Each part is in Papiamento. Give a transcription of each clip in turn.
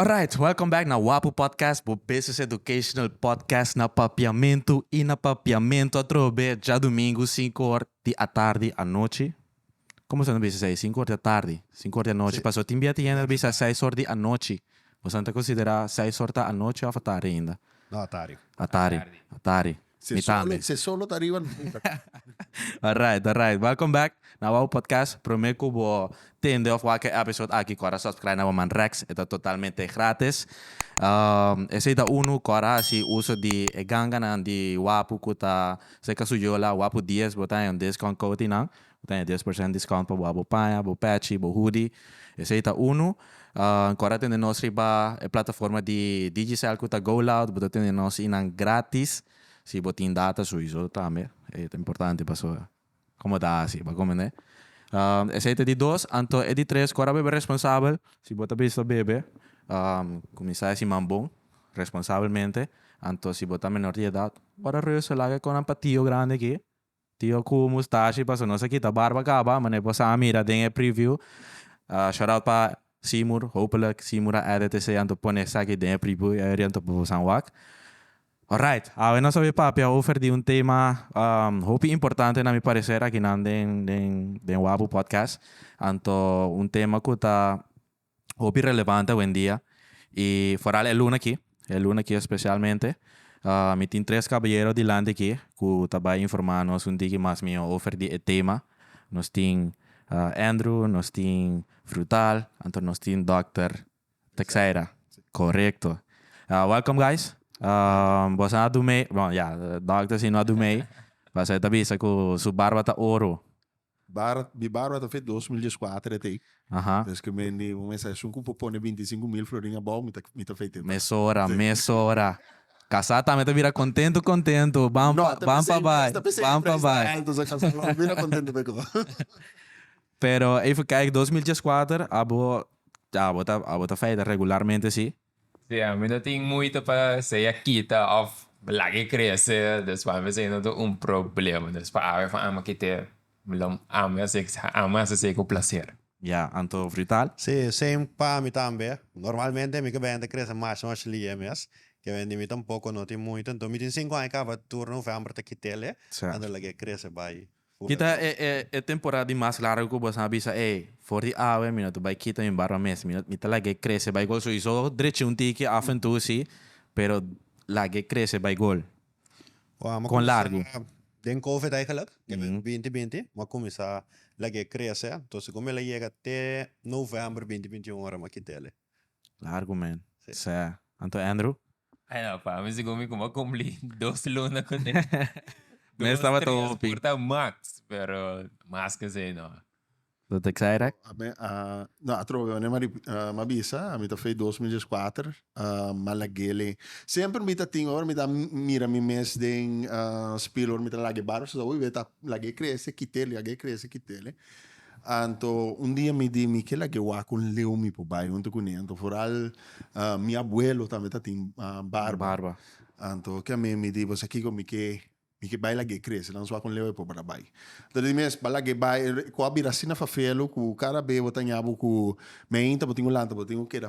Alright, welcome back na Wapu Podcast, bo business educational podcast na Papiamentu i na Papiamentu atrobe djadumingu sinku or di atardi, anochi. Como esnan ta bisa esei? Sinku or di atardi, sinku or di anochi. Pasobra tin bia tin hende ta bisa seis or di anochi. Boso ta considera seis or ta anochi of a tardi ainda? No, a tardi. A tardi. A tardi. Mi tambe. Si e solo ta ariba no importa. Alright, alright. Welcome back na Awaw Podcast. Prome cu bo tende of wak e episode aki cor a subscribe na bo man Rex. E ta totalmente gratis. Esei ta uno cor a haci uso di e ganganan di wapu cu ta. Se ka su yola wap u dies bo ta haña un discount kouti nan bo ta haña dies por sènt discount pa bo a bo paña bo pèchi bo hudi esei ta unu ancora tende nos riba e plataforma di Digicel ku ta GoLoud bo ta tende nos einan gratis si bo tin data su iso tambe ta importante pasobra. Como ta haci pa comene. Esey ta e di dos, anto e di tres cu a rabebe responsabel. Si bo ta bisa bebe cuminsa haci man bon, responsabelmente, anto si bo ta menor di edad, bo a ta reusa laga con nan pa tio grandi aki, tio cu mustashi pasobra nos a kita barba caba, mane bo sa a mira den e preview, shout out pa Seymour, hopelijk Seymour a edit esey anto pone esaki den e preview area anto bo sa wak. Alright, awe nos a bay papia over di un tema hopi importante na mi parecer akinan den den den Wapu Podcast. Anto un tema cu ta hopi relevante awendia y foral e luna aki, e luna aki especialmente. Mi tin tres caballero dilanti aki cu ta bay informa nos un tiki mas mihó over di e tema. Nos tin Andrew, nos tin Frutal anto nos tin Dòkter Texeira, korekto. Welkom guys. Boso a dumei, bon ya, dòkter si no a dumei, pasobra e ta bisa ku su barba ta oro. Bar, mi barba ta fei dos mil dies kuater e ta ei. Desde ku mi mende un mensahe esun ku por pone binti sinku mil florin abou, mi ta, mi ta feita e ta. Mesora, mesora. Kasá tambe ta bira kontentu, kontentu. Ban, ban pa bai, ban pa bai. No, ta pensei, ta pensei alto sa kasá lo bira kontentu peko. Pero even kijk dos mil dieskuater abo ya abo ta abo ta feita regularmente si. Si a mi no tin muita pa sa ya kita of lague crece despues mi sa no ta un problema despues a veces amo kite lo amo hace amo hace esey cu placer. Ya anto frital. Si same pa mi tambe normalmente mi ke bende crece mash mash lie mes ke bende mi tampoco no tin muita enton mi tin cinco aña caba turno hoevembra ta kitele anto lague crece bay. Ki ta e e temporada di mas largu ku boso a bisa, ey, for di awe mi no ta bai kita mi barba mes, mi no mi ta lag'é krese bai gol. Souiso drechi un tiki af en tou si, pero lag'é krese bai gol. Kon largu? Den covid eigenlijk, den binti binti, mi a kuminsá lag'é krese, entonces ku mi el a yega te novèmber binti binti un ora mi a kit'é alí. Largu men. Sè. Anto Andrew? Ay no, pa mi segun mi como a cumpli dos luna con e. Mi a staba ta hopi. Dos, tres por ta max, pero mas cu esey no. Lo Texaira? No, atrobe manera mi a bisa, mi ta fey dos mil diesku ater, Malagele. Semper mi ta tin, ora mi ta mira mi mes den spiegelor, mi ta lag'e barba, so ta hopi b'e ta lag'e crece, kit'e, lag'e crece, kit'e. Anto un dia mi di, Mi ke lag'é wak un leu mi por bai huntu kuné. Anto foral mi abuelo tambe ta tin barba. Anto ke amé mi di, Bo sa kiko, mi ke mi ke bai lag'é krese, nan su wak un leu e por bra bai. Anto e di mes, Ba lag'é bai. Ku a bira asina fafelu ku kada be bo ta ña bo ku mi ainta bo tin un lanta bo tin ku keda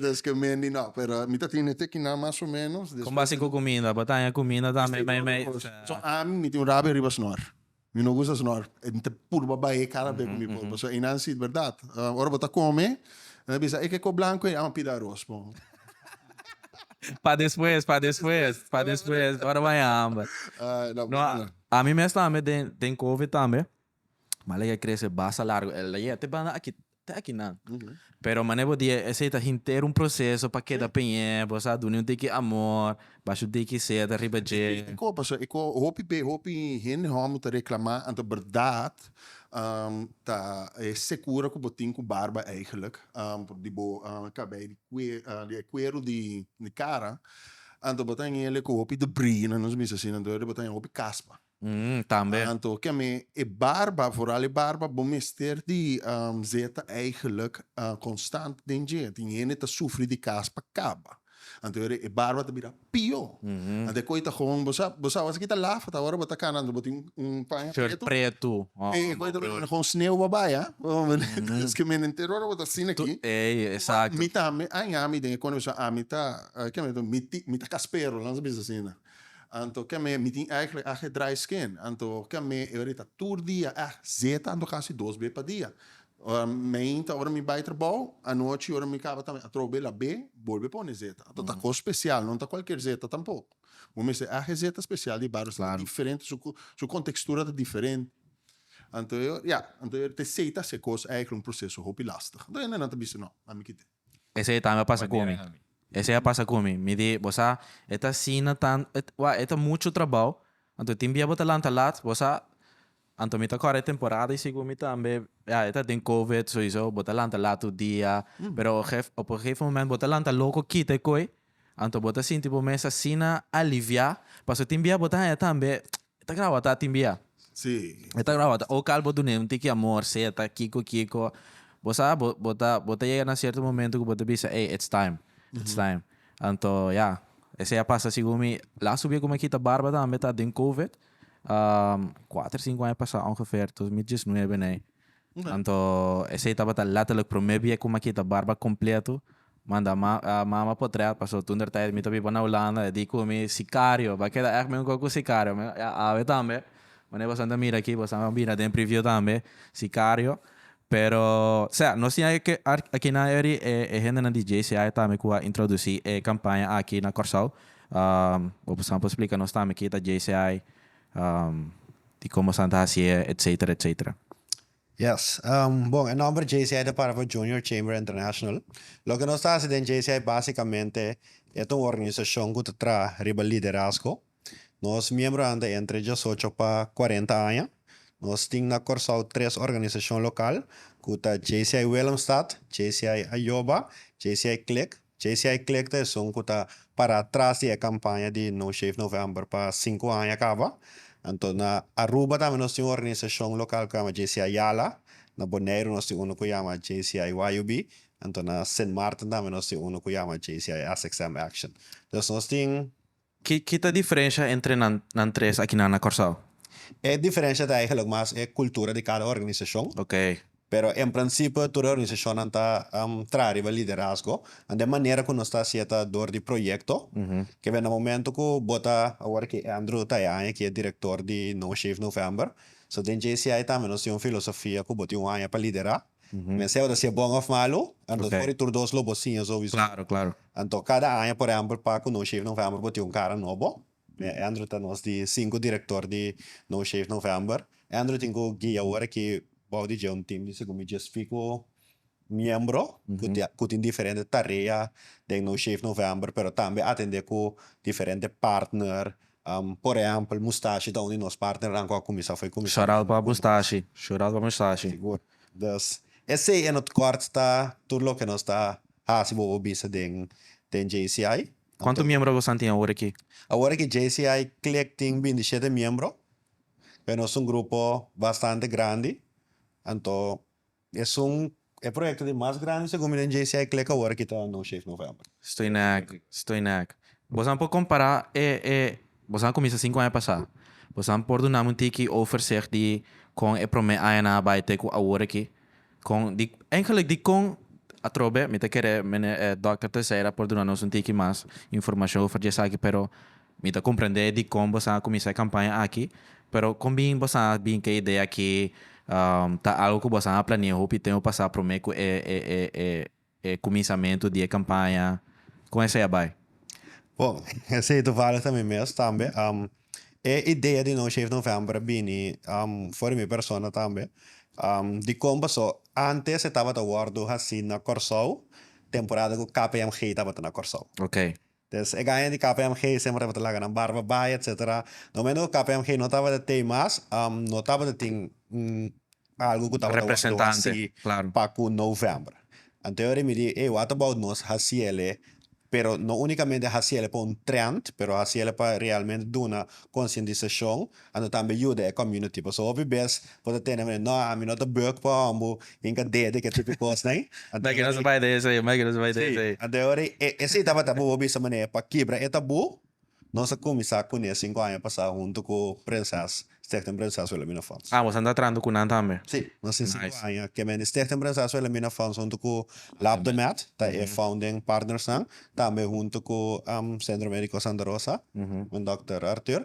Des cu Mendy no, pero mi ta tine te kinan mas o menos. Con base cu cuminda, bo a taña cuminda tambe me, me. So ami, mi tin un rabia riba snor. Mi no gusta snor. Mi ta purba bae cada be cu mi por, pasobra eynan si, berdad, ora bo ta come, nan a bisa, e ke ko blanco ey? Amo a pida aros po. Pa despues, pa despues, pa despues, ora bo a haña hamber. No, ami mes tambe den, den covid tambe. Male ke krese basta largu el a yega te banda aki te aki nan pero mane bo di esei ta henter un proseso pa keda peñe bo sa dune un tiki amor ba su tiki seta riba dje. E ko paso e ko hopi be hopi hende homo ta reklama anto berdad ta e sekura ku bo tin ku barba eigenlik por di bo kabei di kue di e kueru di kara anto bo ta ngele ku hopi de bri na nos misa asina anto bo ta ngele hopi kaspa. Umm, tambe. Anto ke mi e barba, vooral e barba, bo mester di zeta eigenlijk konstant den dje. Tin hende ta sufri di kas pa kaba. Anto ora e barba ta bira pió. Anto e koi ta hon, bo sa, bo sa awor si ki ta lafa, ta ora bo ta kana anto bo tin un paña pretu. Short pretu. E koi ta bira hon sneu bo a bai, a. Paske mi enter ora bo ta asina aki. Ei, exacto. Mi tambe, aña mi den e konde mi sa, ami ta, ke mi ta, mi ta kaspero, nan sa bisa asina. Anto ke me mi tin eigenlijk age dry skin anto ke me e ori ta tur dia eh zeta anto kasi dos be pa dia ora meinta ora mi bai trabou anochi ora mi kaba tambe atrobo be la be bolbe pone zeta anto ta kos special no ta kualkier zeta tampoko bo mester eh age zeta special di barrio ta diferente su su contextura ta diferente anto e ori ya anto e ori te seita se kos eigenlijk un proceso hopi lastig anto e nan ta bisti no ami kiti. Esei tambe a pasa cu mi. Esei a pasa cu mi. Mi di, bo sa, e ta asina tan, e, wak, e ta mucho trabao. Anto tin bia bo ta lanta lat, bo sa, anto mi ta core e temporada y segun mi tambe, ya, e ta den covid, souiso bo ta lanta lat tur dia, pero gef, op e gefe moment bo ta lanta loco kita e koe, anto bo ta sinti bo mes asina alivia, paso tin bia bo ta haya tambe, E ta graba ta tin bia. Sí. E ta graba ta. O kal bo dun'é un tiki amor, seta, kiko, kiko. Bo sa, bo bo ta bo ta yega na sierto momento ku bo ta bisa, ey, it's time, it's time. Anto ya, esei a pasa sigun mi. Lastu bia ku mi a kita barba tambe ta den covid, kuater, sinku aña pasa ongefer, dos mil diesnuebe nei. Anto esei tabata letterlijk prome bie ku ma kita barba kompletu. Manda ma mama potret paso tunder tijt mi ta biba na Hulanda e di ku mi sikario ba keda echt mi un kos ku sikario mi a awe tambe wanneer bosan ta mira aki bosan a mira den preview tambe sikario pero sea nos tin aki akinan eri e hendenan di JCI tambe ku a introdusi e kampaña aki na Kòrsou bosan por splika nos tambe ki ta JCI. di como esnan ta hacié, etcetera, etcetera. Yes. Bon, e nomber JCI ta para pa Junior Chamber International. Loke nos ta haci den JCI basicamente e ta un organisacion cu ta traha riba liderazgo. Nos miembronan ta entre diesocho pa cuarenta aña. Nos tin na Corsou tres organisacion local cu ta JCI Willemstad, JCI Ayoba, JCI Click. JCI Click ta esun ku ta pará tras di e kampaña di No Shave November pa sinku aña kaba. Anto na Aruba tambe nos tin un organisashon lokal ku yama JCI Yala, na Boneiru nos tin unu ku yama JCI YUB, anto na Sint Maarten tambe nos tin unu ku yama JCI SXM Action. Entonces nos tin Ki ta diferensha entre nan tres akinan na Kòrsou? E diferensha ta eigenlik mas e kultura di kada organisashon. Pero en prinsipe tur e organisashonnan ta traha riba liderazgo. Anda e manera ku nos ta hasié ta dor di proyekto. Ke benda momentu ku bo ta, awor ke Andrew ta e aña ku i e direktor di No Shave November. So den JCI tambe nos tin un filosofia ku bo tin un aña pa liderá. Mester ora si e bon of malu, anto for di tur dos lo bo siña su visor. Claro, claro. Anto kada aña, por ehempel, pa ku No Shave November bo tin un kara nobo, e Andrew ta nos di sinku direktor di No Shave November. E Andrew tin ku guia ora ki bou di dje un tim di segun mi djes piko miembro ku ti ku tin diferente tarea den No Shave November, pero tambe atende ku diferente partner. Por ehempel, mustashi ta un di nos partnernan cu a cuminsa fo'i cuminsa cu Shoral pa mustashi, shoral pa mustashi. Sigur. Dus, esey en hot kort ta tur loke nos ta haci bobo bisa den den JCI. Cuanto miembro Agosan tin awor aki? Awor aki JCI click tin bintisiete miembro. Nos ta un grupo bastante grandi. Anto Esun e proyekto di mas grandi segun mi den JCI Click awor aki ta No Shave November. Stoi nèk, stoi nèk. Bosan por kompará e e bosan a kuminsa sinku aña pasá. Bosan por dunami un tiki overzicht di kon e promé añanan a bai te ku awor aki? Kon di ènkelijk di kon atrobe mi ta kere Mene Dòkter Teixeira por duna nos un tiki mas informashon over di esaki pero Mi ta comprende dicon bosa a cuminsa e campaña aki, pero con bin bosa a bin cu e idea aki? Ta algo cu bosa a planea hopi tempo pasa prome cu e e cuminsamento di e campaña? Con esey a bay? Bon, esey toevallig ta mi mes tambe. E idea di No Shave November a bini for di mi persona tambe. Dicon paso? Antes e tabata wordo haci na Corsou, temporada cu KPMG tabata na Corsou. Ok. Des e gaña di kpmg semper tabata laga nan barba bai etc. No me no kpmg no tabata tei mas no tabata tin un algu ku tabata wak lo hasi pa ku november. Anteori mi di ey wata about nos hasiele pero no unikamente hasiele pa un trend pero hasiele pa realmente duna konsientisashon a no tambe yuda e community paso hopi bes bo ta tene manera no ami no ta buek pa hombo y enka dea di ke tipo di cos nai Mike no se bay de eso ahí Mike no se bay de eso ahí. Anto ahora esey tabata bo bo bisa manera pa kibra e tabu nos a cuminsa cu ne cinco aña pasa hunto cu Princess Stichting Princess Wilhelmina Funds. Ah bo estanda traando cu nan tambe. Si nos tin cinco aña ke men di Stichting Princess Wilhelmina Funds hunto cu Lab de Med ta e founding partners nan tambe hunto cu Centro Medico Santa Rosa men Dokter Arthur.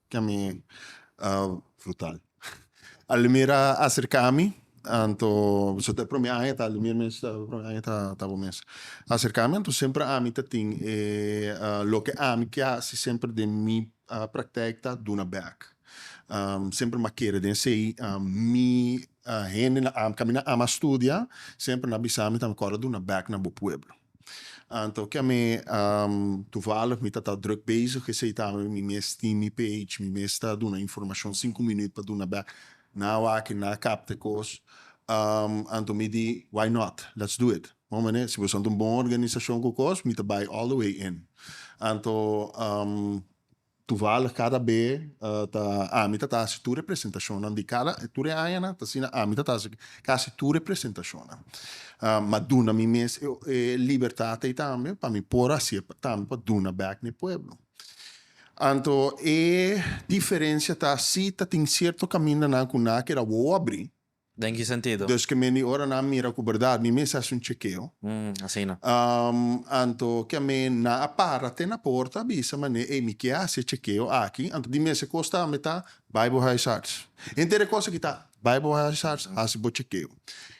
Can mi a frutal Alimir a acerca mi anto so ta e prome aña ta Alimir mes ta e prome aña ta bo mes a acerca mi anto semper ami ta tin e loke ami ke haci semper den mi practec ta duna bek semper mi a kere den esey mi hende na ami na ama studia semper na bisa mi ta me kor a duna bek na bo pueblo. Anto kemi tuvallig mi ta ta druk bezig esei ta awe mi mes tin mi page mi mes ta duna informashon sinku minüt pa duna bek na awaki na kap te kos anto mi di why not let's do it bon manera si boso anto un bon organisashon ku kos mi ta bai all the way in anto. Toevallig kada be ta ami ta ta hasi tur e presentashonnan di kada tur e añanan ta asina ami ta ta hasi kasi tur e presentashonnan m'a duna mi mes e libertat ei tambe pa mi por hasi'e tambe pa duna bèk na e pueblo anto e diferensha ta si tatin sierto kamindanan ku nan a keda wou a bri. Den ki sentido? Desk'e men di ora nan a mira ku bèrdat, mi mes a hasi un chekeo. Hm, asina. Anto ke a men nan a para te na porta a bisa manera, Ey, mi ke hasi e chekeo aki. Anto di mes e kos tambe ta Bible huisarts. Henter e kos aki ta Bible huisarts, hasi bo chekeo.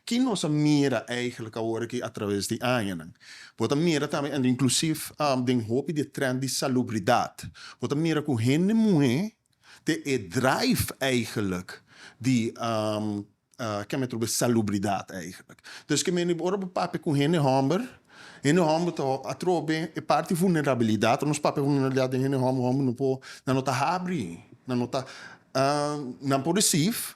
Ki nos a mira eigentlik awor aki atraves di añanan? Bo ta mira tambe, anto inklusief den hopi di e trend di salubridat, bo ta mira ku hende muhé te e drive eigenlijk di ke me trobe salubridad eigenlijk. Dus ke meni ora bo papia ku hende hòmber, hende hòmber ta a trobe e parti vulnerabilidad, ora nos papia vulnerabilidad den hende hòmber, hòmber no por nan no ta habri, nan no ta nan por receive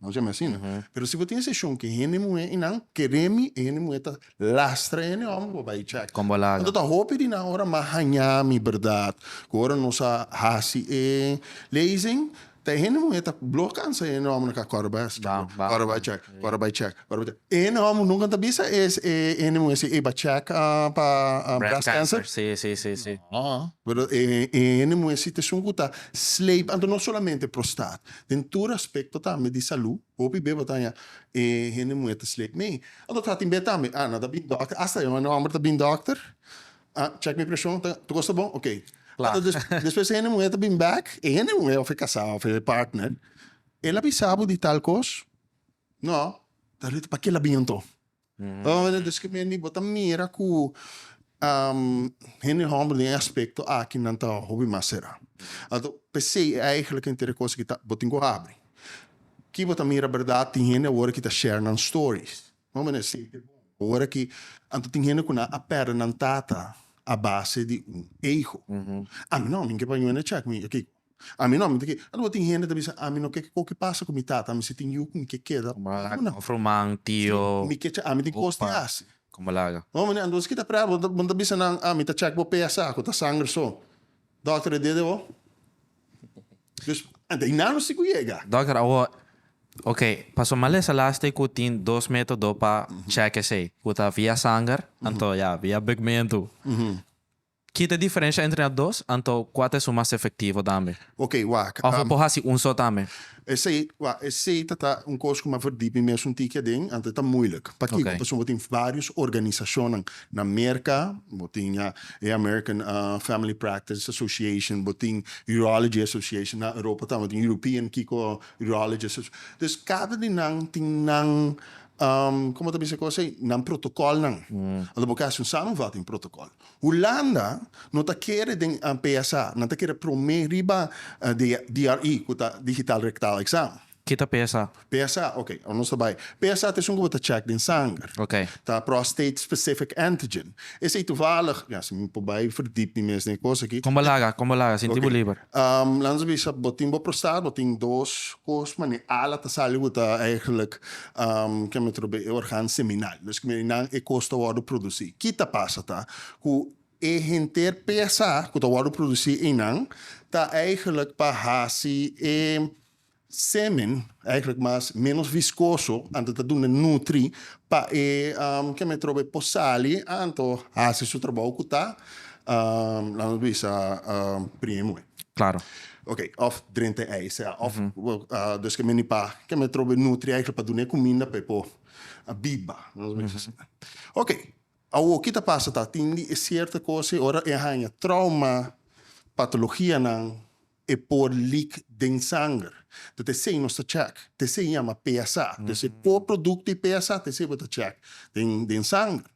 Nos yama asina. Pero si bo tin seshon ku e hende muhé i nan keré mi, e hende muhé ta lastra e hende hòmber pa bai chèk. Kon bo a laga? Anto ta hopi di nan ora mas hañá mi bèrdat ku ora nos a hasi e lezing, ta e hende muhé ta blor kansa e hende hòmber nan ku a kòrda bai hasi chèk, kòrda bai chèk, kòrda bai chèk, kòrda bai chèk. E hende hòmber nunka ta bisa e hende muhé si, ey, bai chèk pa breast cancer. Breast cancer, si, si, si. Nò. Pero e hende muhé si ta esun ku ta sleepe. Anto no solamente prostat. den tur aspekto tambe di salú, hopi beba ta haña e hende muhé ta sleep mee. Anto ta tin be tambe, ah nan ta bini dòkter, asta e hende hòmber ta bini dòkter, ah chèk mi preshon, ta tur kos ta bon, ok. Anto des despues e hende muhé ta bini bèk, e hende muhé òf e kasá òf e partner, el a bisa bo di tal kos? Nò, ta reta, pakela bini anto? Oe dus keer mei bo ta mira ku hende hòmber den e aspekto aki nan ta hopi mas será. Anto p'esei e eigenlijk e inter e kos aki ta bo tin ku habri. Ki bo ta mira bèrdat tin hende awor ki ta share nan stories. Bo mira esei ta bon ku ora ki anto tin hende ku nan a pèrdè nan tata a base di un eigo. Ami no, ami ke pañu ene chèk mi a kiko. Ami no, mi ta keda. Aloha tin hende ta bisa, Ami no ke kiko ke pasa ku mi tata, mi si tin yu ku mi ke keda. Kuma? Of ruman, tio, opa. Si mi ke cha, ami tin kos di hasi. Kon bo laga? No, mane. Anto kiko ta prea? Bo ta, bo no ta bisa nan, Ami ta chèk bo PSA, ku ta sanger so. Dòkter, e dede bo? Dus, ante i nan lo si ku yega. Dòkter, awo, ok, paso malesa last'e ku tin dos método pa chèk esei, ku ta via sanger, anto ya, via bigmentu. Ki ta diferensha entre nan dos, anto kua ta esun mas efektivo tambe? Ok, wak. Òf bo por hasi un so tambe? Esei, wak, esei ta ta un kos ku mi a verdí mi mes un tiki aden, anto e ta muilik. Pakiko? Ok. Pasobra bo tin vários organisashonnan na Merka, bo tin ya e American Family Practice Association, bo tin Urology Association, na Europa tambe bo tin European kiko Urology Association. Dus kada di nan tin nan, komo ta bisa e kos ei, nan protokòlnan. Anto bo ke hasi un samenvatting protokòl. Hulanda no ta kere den PSA, nan ta kere promé riba di DRE, ku ta Digital Rectal Exam. Ki ta PSA? PSA, ok, ora nos ta bai. PSA ta esun ku bo ta chèk den sanger. Ok. Ta Prostate Specific Antigen. Esei tuvalig, ya, si mi por bai verdip mi mes den e kos aki. Kon bo laga, kon bo laga, sinti bo liber. Ok. Lans a bisa, bo tin bo prostate, bo tin dos kos, ma n'e ala ta sali ku ta, eigenlijk, Ke mi trobe e organ seminal. Mes ku mi di nan e kos ta wòrdu produsí. Ki ta pasa ta ku e henter pesa ku ta wòrdu produsí einan ta eigelijk pa hasi e semen eigelijk mas ménos viskoso anto ta duna nutri pa e ke mi trobe por sali anto hasi su trabou ku ta la nos bisa primero moe. Klaro. Ok, òf drenta e ei, sea, òf dus ke mini pa ke me trobe nutri ei pa dun'é kuminda pa e por biba. Ok, awo ki ta pasa ta tin di e sierto kosnan ora e haña trauma, patologianan e por leak den sanger. Tok esei nos ta check, tok esei yama PSA. Tok esei por produkto di PSA, tok esei bo ta check den sanger.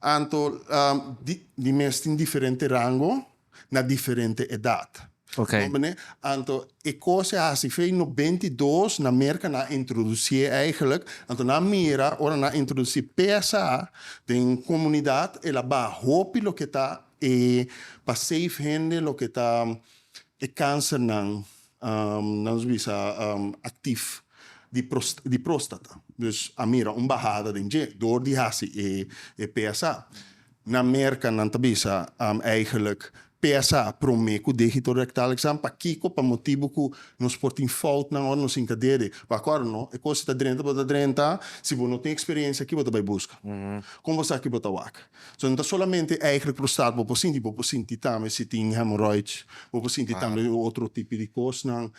Anto di mes tin diferente rango na diferente edat. Bo mene? Anto e kos e hasi fe no benti i dos na Merka nan a introdusí eigenlijk. Anto nan a mira ora nan a introdusí pesa den un komunidat el a baha hopi loke ta e pa save hende loke ta e kansernan Nos bisa aktif di próstata, dus a mira un bahada den dje dor di hasi e PSA. Na Merka nan ta bisa eigenlijk PSA promé ku dehito rektal ekzam. Pakiko? Pa motibu ku nos por tin foutnan ora nos hinka dede. Bo a kòrda no? E kos ta drenta, bo ta drenta, si bo no tin eksperensia, ki bo ta bai buska? Kon bo sa ki bo ta wak? So no ta solamente eigenlijk prostat bo por sinti, bo por sinti tambe si tin hemorroid, bo por sinti tambe otro tipo di cosnan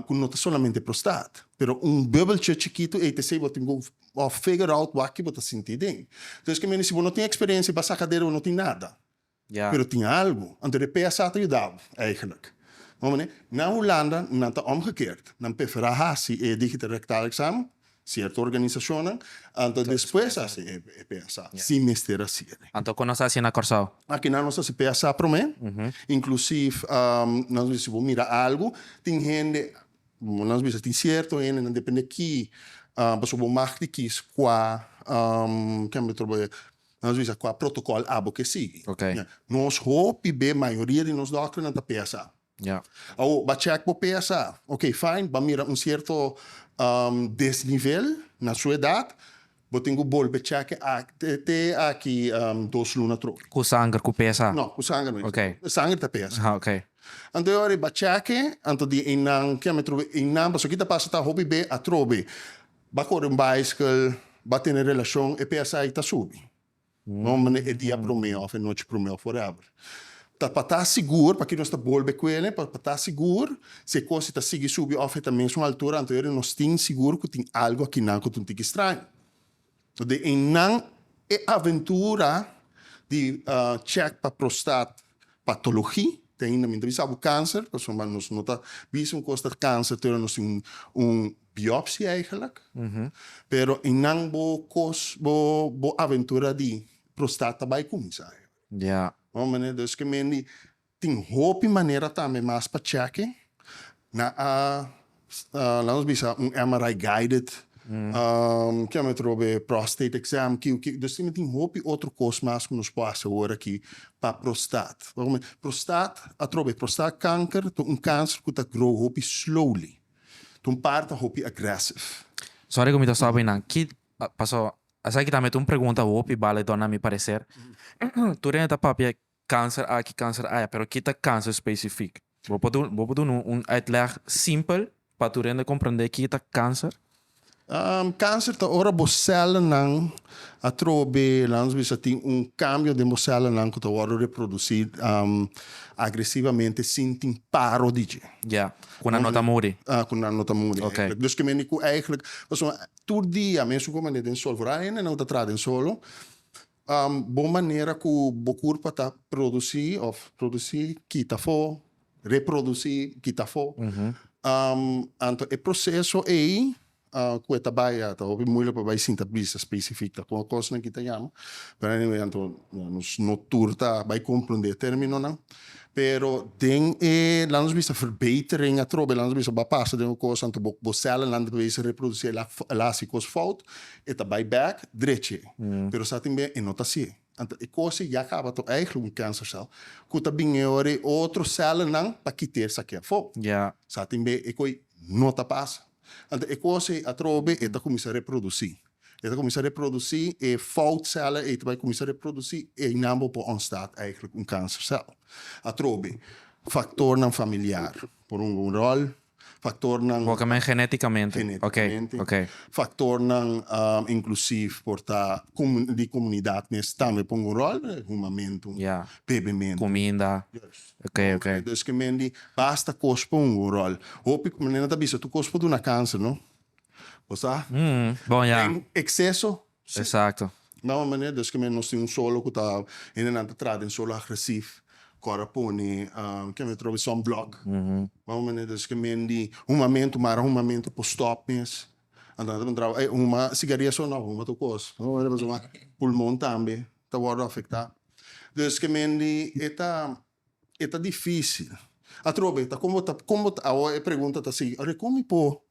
cu no ta solamente prostat, pero un bubbeltje chikito ei ta esey bo tin cu figure out wak bo ta sinti den, entonces ke mene si bo no tin experiencia pa saca dera bo no tin nada, pero tin algo, anto de PSA ta yuda bo eigenlijk, bo mane, na Hulanda nan ta omgekeerd, nan pefera haci e digital rectal examen, Cierto organisacionnan anto despues a haci e PSA, si mester haci e. Anto con nos a haci na Corsao? Akinan nos a haci PSA prome, inclusief nos bisa si bo mira algo, tin hende, nos bisa tin cierto hendenan depende ki pasobra bo mag di kies cua kico otro boyer, nos bisa cua protocol abo ke sigui. Nos hopi be mayoria di nos doctornan ta PSA. Ya. Awor, ba check bo p'e asa. Ok, fijn, ba mira un cierto desnivel na su edad, bo tin cu bolbe check'e te aki dos luna trug. Cu sanger, cu pesa? No, cu sanger no. Ok. Sanger ta pesa. Ha, ok. Anto e ora, ba check'e, anto di einan, ki'e me trobe einan, pasobra ki ta pasa ta hopi be atrobe. Ba corre un bicycle, ba tene relacion, e pesa ei ta subi. Nombre e dia promé òf e nochi promé òf whatever. Ta pa ta sigur, pakié nos ta bolbe ku el'e, pa ta sigur si e kosa ta sigui subi òf e ta mesun altura anto eri nos tin sigur ku tin algu akinan ku ta un tiki straño. Dei einan e aventura di check pa prostat. patologi te ainda mi ta bisa bo kanser pasobra nos no ta bisa un kos ta kanser te ora nos tin un biopsi eigenlijk pero eynan bo kos bo bo aventura di prostat ta bai cuminsa no manera dus ke mendi tin hopi manera tambe mas pa cheke nan a Laat ons bisa un MRI guided kilometro be prostate exam kiu kiu. Dus tin tin hopi otro kos mas ku nos por hasi ora aki pa prostat. Prostat atrobe be prostat kanker ta un kanser ku ta grow hopi slowly. Ta un parti ta hopi aggressive. Sorry ku mi ta stop ahi nan. Ki paso esaki tambe ta un pregunta hopi bale dona mi pareser. Tur den e ta papia kanser aki, kanser aya, pero ki ta kanser spesifik? Bo por duna, bo por duna un uitleg simpel pa tur hende komprendé ki ta kanser? Kanser ta ora bo sèlnan atrobe, lans bisa, tin un kambio den bo sèlnan ku ta wòrdu reprodusí agresivamente sin tin paro di dje. Ya, ku nan no ta muri. Ku nan no ta muri, èiklek. Dus kimendi ku èiklek, pasobra tur dia, mesun komo den Solvor, hende nan ku ta traha den solo, Bon manera ku bo kur pa ta produsí òf produsí kita afó, reprodusí kita afó. Anto e proseso ei ku e ta bai a ta hopi muilik pa bai sinta bisa spesifik ta kon kosnan ki ta yama, pero anyway anto nos no tur ta bai komprondé términonan. Pero den e, laat ons bisa, verbetering atrobe, laat ons bisa ba pasa den un kos anto bo bo cellenlanden ta bisa reproduci e la e la haci kos fout, e ta bai bek drechi. Pero sa tambe e no ta asi. Anto e kosie ya caba ta eigentlijk un cancercel cu ta bini ora e otro cellennan ta kita esaki afo. Sa tambe e koe no ta pasa. Anto e kosie atrobe e ta cuminsa reproduci. E ta kuminsá reproducí, e fout sèllen ei ta bai kuminsá reproducí, einan bo por ònstad eigentlik un kansersèl. Atrobe, faktornan familiar por hunga un ròl, faktornan. Bo ka men genétikamente. Genétikamente. Oké, oké. Faktornan inklusief por ta di komunidat mes tambe por hunga un ròl, humamentu, Ya. bebementu. Kuminda. Yes. Oké, oké. Dus ke men di basta kos por hunga un ròl. Hopi, manera nan ta bisa tur kos por duna kanser, no? Bo sa? Mm, bon ya. Den exceso, si. Exacto. Na un manera, deskemen nos tin un solo cu ta, hende nan ta trata den solo agresif, cu ora pone, um, kico mi trobe, sunblock. Mm-hmm. Na un manera, deskemen di humamento, mara humamento por stop mes. Anto nan ta puntraba, ey, huma sigaria so? No, huma tur cos. Na un manera, pasobra pulmon tambe ta wordo afecta. Deskemen di e ta. E ta difícil. Atrobe e ta con bo ta con bo ta awo e pregunta ta sigui oye con mi por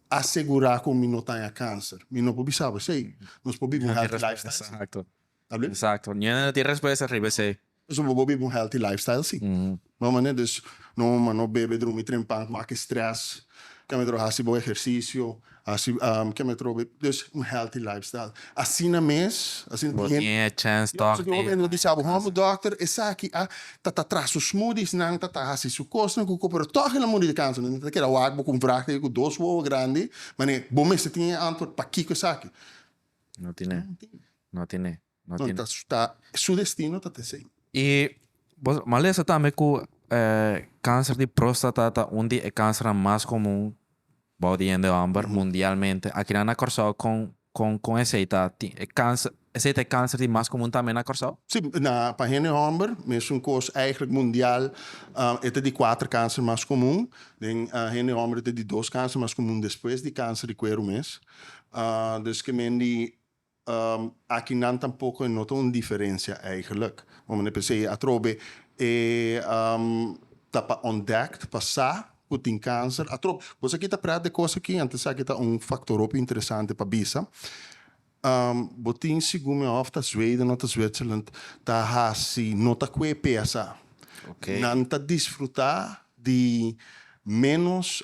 asegura cu mi no ta haña cancer mi no por bisa bo esey nos por biba un healthy lifestyle Exacto exacto niña no tin respuesta riba esey. Nos por biba un healthy lifestyle si no manera dus no mama no bebe drumi trempa cu aki stress cambia tro haci bo ehercicio Asi ke mi a troba e dus un healthy lifestyle. Asina mes, asina tin hende. Bo tin e chance tok di. Pasobra un hende lo bisa bo, Home doctor esaki a ta ta tras su smoothies nan, ta ta hasi su kosnan ku ko, pero tok el a muri di kansa. Nan ta keda wak bo ku un vraag dje ku dos wowo grandi, manera bo mester tin e antword pakiko esaki. No tin e. No tin e. No tin. No ta su destino ta t'esey. Y nos a lesa tambe cu e cancer di prostata ta un di e cancernan mas comun bou di hende homber mundialmente. Akinan na Corsou con con con esey ta tin e cancer esey ta e cancer di mas comun tambe na Corsou? Si, na pa hende homber mesun cos eigenlijk mundial e ta di cuater cancer mas comun. Den hende homber e ta di dos cancer mas comun despues di cancer di cuero mes. Desque men di Aki nan tampoco e nota un diferencia eigenlijk. Momen e p'esei atrobe e ta pa ontdekt, pa sa cu tin cancer. Atrobe, bos aki ta prat de cos aki antes esaki ta un factor hopi interesante pa bisa. Bo tin segun mi hof ta Zweden of ta Zwitserland ta haci no ta cue pesa. Nan ta disfruta di menos.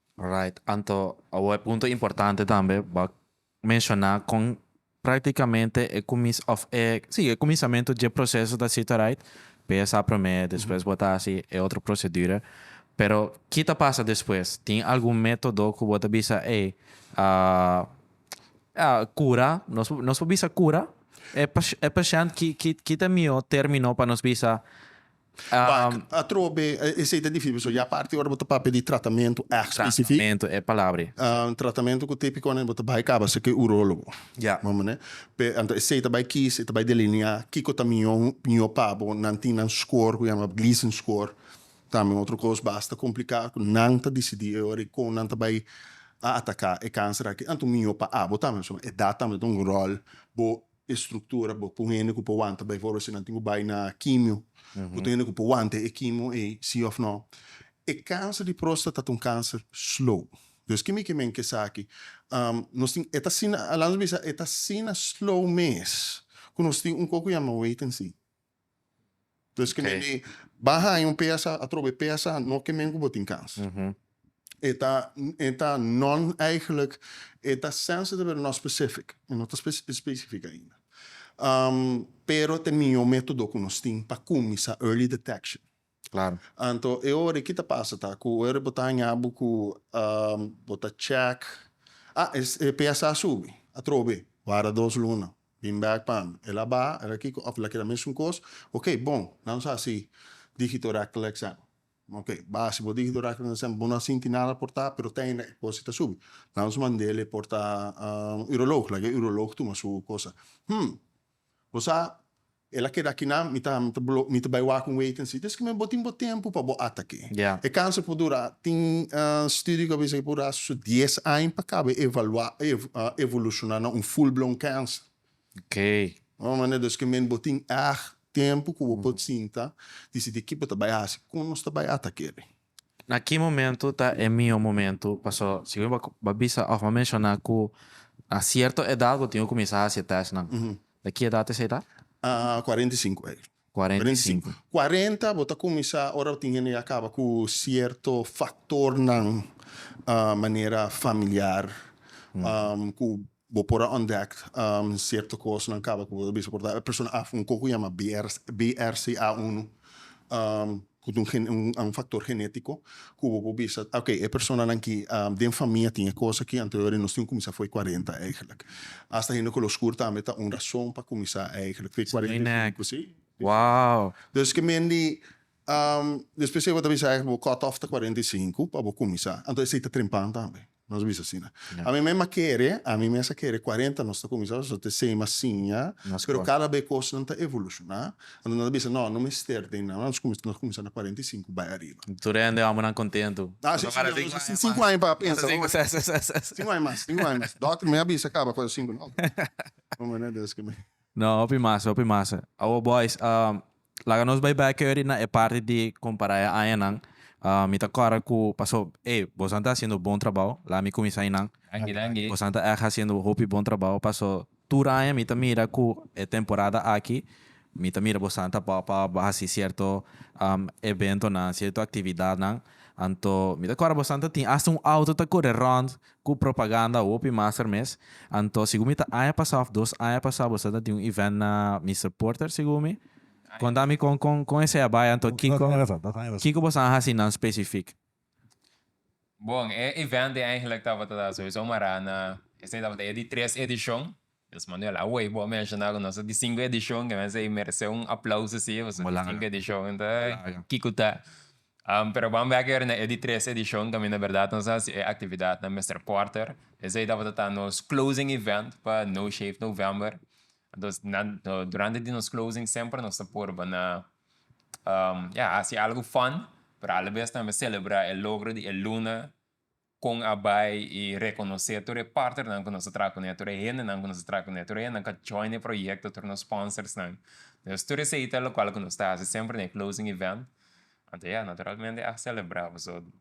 Right, anto awo e punto importante tambe bo a menshona kon praktikamente e kumis òf e si e kuminsamentu dje proseso ta sita right, pesa promé despues bota hasi e otro prosedura, pero ki ta pasa despues? Tin algun método ku bo ta bisa ey a kura nos nos por bisa kura e pashènt ki ki ki ta mihó término pa nos bisa Pak atrobe esei ta difícil pasobra ya parti ora bo ta papia di tratamentu espesifik. Tratamentu e palabra ei. Un tratamentu ku te picone bo ta bai caba si ke urólogo. Ya. Bo mane? Pe anto esei ta bai kiss, e ta bai delineá kiko ta mihó mihó pa bo. Nan tin nan score ku yama Gleason score. Tambe un otro kos basta komplikado ku nan ta disidí e ora ei kon nan ta bai a ataká e kanser aki. Anto mihó pa abo tambe pasobra edat tambe ta un ròl. Bo e struktura bo ku hende ku por wanta bai for si nan tin ku bai na kimio ku tin hende ku por wanta e kimio ei si òf nò e kanser di próstata ta un kanser slow dus kimi ke men ke esaki nos tin e ta asina Alanis bisa e ta asina slow mes ku nos tin un kos ku yama wait and see. Entonces ke men di ba haña un psa atrobe psa no ke men ku bo tin kans e ta e ta non eigenlijk e ta sensitive pero no specific e no ta specific ainda pero te miño metodo ku nos tin pa kuminsa early detection. Claro. Anto e ora e ki ta pasa ta cu e ora bo ta haña bo cu bo ta check, ah e psa a subi atrobe, wara dos luna bin back pa mi, el a baha el a kico of el a keda mesun cos, ok bon nan nos haci digito rectal exam, ok baha si bo digito rectal exam bo no a sinti nada por ta pero ta ene e cos ta subi nan nos mandel e por ta urolog laga e urolog tuma su cosa, hmm. Bo sa, el a keda aki nan, mi ta mi ta bai wak un weten sitio, esaki bo tin bo tempu pa bo at aki. E kansa por dura, tin studio ku a bisa ku por dura su dies aña pa kaba e evalua, e evolushona na un full blown kansa. Mesmu manera dus ke men bo tin èg tempu ku bo por sinta, disidi ki bo ta bai hasi, kon nos ta bai at akeri. Na ki momentu ta e mihó momentu? Paso si bo ba bisa òf bo a menshoná ku na sierto edat bo tin ku kuminsá hasi e tèstnan. Ta ki edat esei ta? Kuarenta i sinku ei. Kuarenta i sinku. Kuarenta bo ta kuminsá ora bo tin hende ya kaba ku sierto faktornan manera familiar ku. Bo por a ontdek cierto cosnan caba cu bo ta bisa. Por tabata e persona af un coco yama BRCA uno cu ta un factor genetico cu bo por bisa ok e personanan aki den famia tin e cosa aki anterior y nos tin cuminsa fo'i cuarenta eigenlic. Hasta hende color scuro tambe ta un razon pa cuminsa eigenlic fo'i cuarenta y cinco si. Dus ki men di despues esey bo ta bisa bo cut off ta cuarenta y cinco pa bo cuminsa. Anto esey ta trempan tambe. Nos bisa asina. Ami mes a kere, ami mes a kere cuarenta nos ta cuminsa nos ta te sema siña, pero cada be cosnan ta evoluciona. Anto nos ta bisa no, no mester den nan, nos cuminsa, nos cuminsa na cuarenta y cinco bay ariba. Tur e hende hombrenan contento. Ah, si, si, nos a tin cinco aña pa pensa. Cinco aña mas, cinco aña mas. Dokter mi a bisa caba cua cinco, no. Hombrenan desca mi. No, hopi masa, hopi masa. Awo boys, laga nos bai bek eri na e parti di compara e añanan. Mi ta corda cu paso, ey, bosan ta haciendo bon trabao, laga mi cuminsa einan. Danki, danki. Bosan ta echt haciendo hopi bon trabao, paso tur aña mi ta mira cu e temporada aki, mi ta mira bosan ta pop up, haci cierto eventonan, cierto actividadnan. Anto, mi ta corda bosan ta tin hasta un auto ta core rond Cu propaganda hopi master mes. Anto segun mi ta aña pasa of dos aña pasa boso ta tin un event na Mister Porter segun mi. Conta mi con con con esey a bay anto Dos kico aña pasa, dos aña pasa. kico boso a haci nan specific. Bon, e event ei eigenlijk tabata sowieso mará na, esei tabata e di tres edishon, Miss Manuel, awey bo a menshoná ku nos ta di sinku edishon, ke mester i meresé un aplaus así, pasobra di sinku edishon ta kiko ta. Pero bo a bira keer na e di tres edishon tambe na berdad nos a hasi e aktividat na Mister Porter, esei tabata ta nos closing event pa No Shave November, entonces nan durante di nos closing semper nos ta purba na ya hasi algu fun, pero alabes tambe selebrá e logro di e luna. kon a bai y rekonosé tur e partnernan ku nos ta traha kuné, tur e hendenan ku nos ta traha kuné, tur e hendenan ku a join e proyekto, tur nos sponsorsnan. Entonces, tur esei ta lokual ku nos ta hasi semper na e closing event. Anto ya, naturalmente a selebrá. Pasobra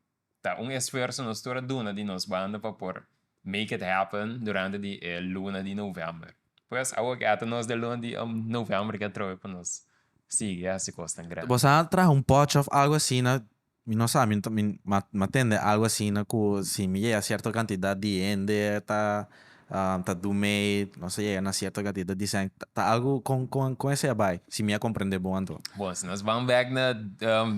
ta un esfuerso nos tur a duna di nos banda pa por make it happen durante di e luna di novèmber. Pues, awor ku ya ta nos den luna di novèmber ke atrobe pa nos sigui hasi kosnan grandi. Bo sa traha un pòchi òf algu asina? Mi no sa, mi ta mi m'a tende algo asina cu si mi yega cierto cantidad di hende ta ta do mee, nos a yega na cierto cantidad di cent, ta algo con con con esey a bay, si mi a comprende bon anto. Bon, si nos ban bek na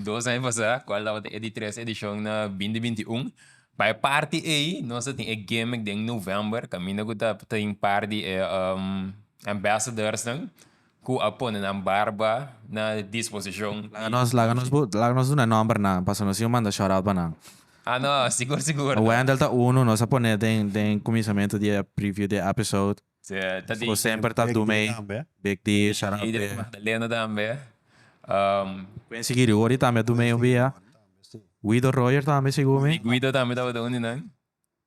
dos aña pasa, cual tabata e di tres edicion na binti binti y un, pa e parti ey nos a tin e gimmick den november, caminda cu ta tin par di e ambassadors nan. Cu a pone nan barba na disposicion di Dios. Laga nos, laga nos, laga nos duna nomber nan, pasa nos siñor manda shout-out pa nan. Ah no, sigur sigur no. Wendel ta uno, nos a pone den, den cuminsamentu di e preview di e episode. Sea, ta di. Cu semper ta do mee. Big D tambe. Big D, shout-out pa e. Big D, Magdalena tambe. Um. Pueden sigui di Woody tambe a do mee un bia. Guido Royer tambe, segur mi. Di Guido tambe tabata un di nan.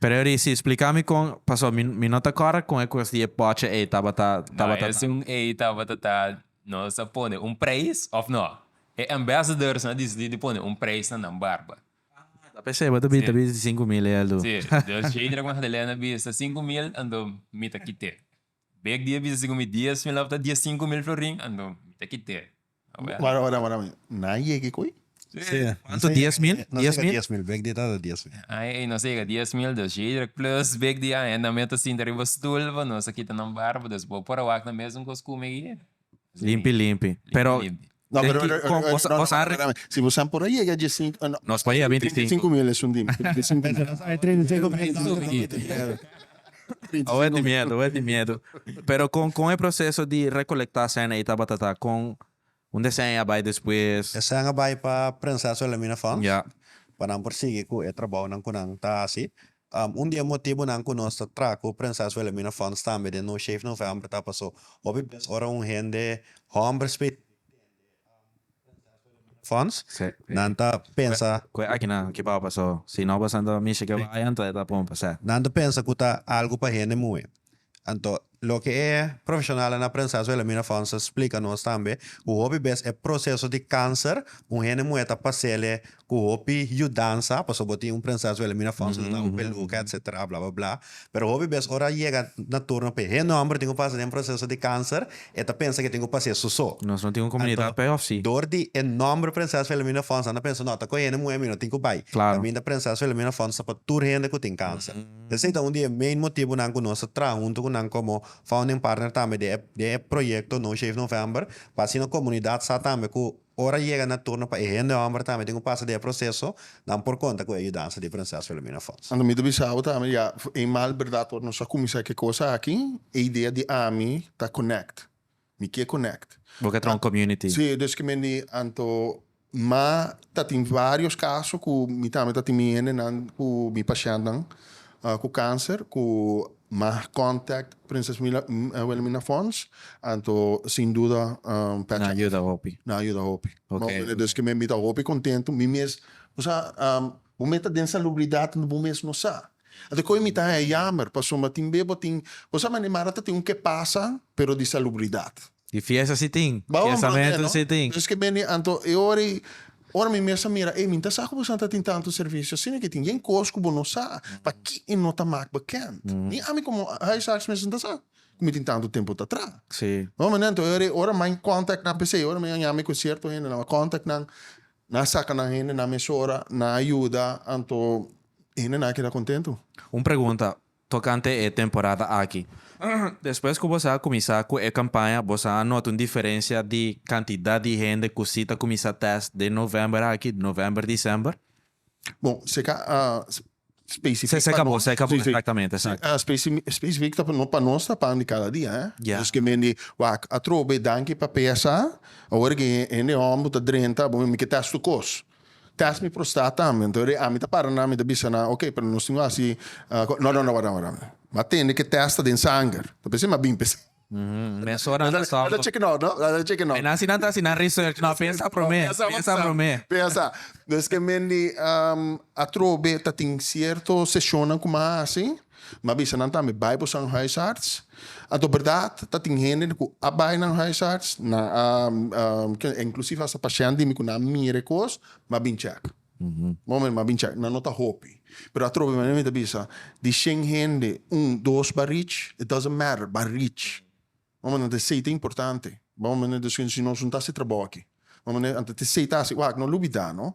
Pero e ri'si spliká mi kon pasó mi mi no ta kòrek kon e kos di e pòchi ei tabata tabata ta. Esun ei tabata ta nos a pone un preis òf no? E ambassadors a disidí di pone un preis na nan barba. Ah ta p'esei bo ta bi ta bisti sinku mil ei al dun. Sí, dus Sheidrak Magdalena bisa sinku mil anto mi ta kit'é. Bek di e bisa si ku mi dies mil tabata dies sinku mil florin anto mi ta kit'e. Wara wara wara mi na yega e koi? Si kuantu dies mil? No sega dies mil bek di e tabata dies mil. Ai ai no sega dies mil dos yedra plus bek di ai nan mi a ta sinta riba stul pa nos a kita nan barba dus bo por a wak na mesun kos ku mi. Limpi, limpi. Pero Limpi. No, Den pero ki- eh, kon- eh, cosa- no, no, cosa pero- arre- pero- si vos han por llega de cinco, eh, no. Nos pa llega 25. mil es un dim. 35 mil. Nos hay 35 mil. Oe di miedo, oe di miedo. Pero con, con e proceso di recolecta cena y tabatata, con un deseño a bay despues. Desean a bay pa Prinses Wilhelmina Fonds. Ya. Pa nan por sigui cu e trabaonan cu nan ta haci. Un di e motibunan ku nos ta traha ku Prinses Wilhelmina Fonds tambe den nos Shave November ta pasó hopi bes ora un hende, hòmber spesifiko, tende Prinses Wilhelmina Fonds, nan ta pensa, Ku e akinan ke bou pasó, si no boso anto mishi ke bayan ta e ta pon pasá. Nan ta pensa ku ta algu pa hende muhé. Anto, loke e profeshonalnan a prensá su Elamina Fonds a splika nos tambe ku hopi bes e proseso di kanser un hende muhé ta pas'ele ku hopi yudansa, pasobra bo tin un prensá su Elamina Fonds, lo dau un peluka etsetera blablabla. Pero hopi bes ora a yega na turno p'e hende hòmber tin ku pasa den proseso di kanser e ta pensa ku e tin ku pas'é sosó. Nos no tin un komunidat p'e òf sí? Dor di e nòmber prensá su Elamina Fonds nan a pensa, no, ta ku e hende muhé mi no tin ku bai. Klaro. Tambe ta prensá su Elamina Fonds ta pa tur hende ku tin kanser. Esei ta un di e main motibunan ku nos ta traha huntu ku nan komo founding partner tambe den e den e proyekto No Shave November pa asina komunidat sa tambe ku ora yega na turno pa e hende hòmber tambe tin ku pasa den e proseso nan por konta ku e yudansa di Prinses Wilhelmina Fons. Anto mi ta bisa bo tambe ya eenmaal berdad ora nos a kuminsá e kos aki e idea di ami ta connect Mi ke konekt. Bo ke tron community. Si, dus ke mi a di anto. Ma tatin varios kaso ku mi tambe ta tin mi hendenan ku mi pashèntnan ku kanser ku mag kòntakt Prinses Wilhelmina Fonds, anto sin duda Pèt Shop. Na yuda hopi. Na yuda hopi. Oke. Duske mi ta hopi kontentu. Mi mes, bo sa. Bo me ta den salubridad unda bo mes no sa. Anto koe mi ta haña yamer pasobra tin be bo tin, bo sa mane mara ta tin un ke pasa pero di salubridad. Di fiesta si tin, fiestamento si tin. Esque mene anto e ora ei, ora mi mes a mira ei mi ta sa ku bo sa ta tin tanto servicio asi no ke tin. Yen kos ku bo no sa paki e no ta mak bekend. Ni ami komo huisarts mes no ta sa ku mi tin tanto tempu ta tra. Bo mane anto e ora ei ora main contact nan p'esei ora mi a yamer ku cierto hende nan a contact nan Nan a saca nan hendenan mesora, nan a yuda, anto e hendenan a keda contento. Un pregunta tocante e temporada aki. Despues cu bosa a cuminsa cu e campaña, bosa a nota un diferencia di cantidad di hende cu si ta cuminsa test den november aki, november, december? Bon, se ca Specific pa nos. Sí, sí. Exactamente, sí. Specific ta no pa nos ta pan di cada dia, eh. Ya. Nos ke mendi wak atrobe, danki pa pesa. Awor ke hende hòmber ku ta drenta, bo mi ke tèst tur kos. Tèst mi prostat tambe. Anto re ami ta para nan, mi ta bisa nan, ok, pero nos tin ku hasi, no, no, no, wardá, wardá. Bo a tende ke tèst ta den sanger. Ta p'esei mi a bini p'esei. Mm, mesora Nan ta, ta nan ta cheki no, no? Nan ta cheki no. Así nan ta haci nan research. No, pensa prome. Pensa Pensa avanzá. prome. Pensa. Nos esque men di am, atrobe ta tin cierto sesionnan cu mi a haci. Mi a bisa nan tambe, bai boso a un huisarts. Anto berdad, ta tin hende cu a bai na un huisarts, nan a, am, ke, inclusive hasta pashent di mi cu nan a mira e cos, mi a bin check. Mó mi a bin chèk, nan no ta hopi, pero atrobe manera mi ta bisa, di shen hende, un, dos bai rich, it doesn't matter, bai rich. Mó manera ta esei ta importante, mó manera ta esei, si nos no ta hasi trabou aki, mó manera anto ta esei ta hasi, wak, no lubidá no,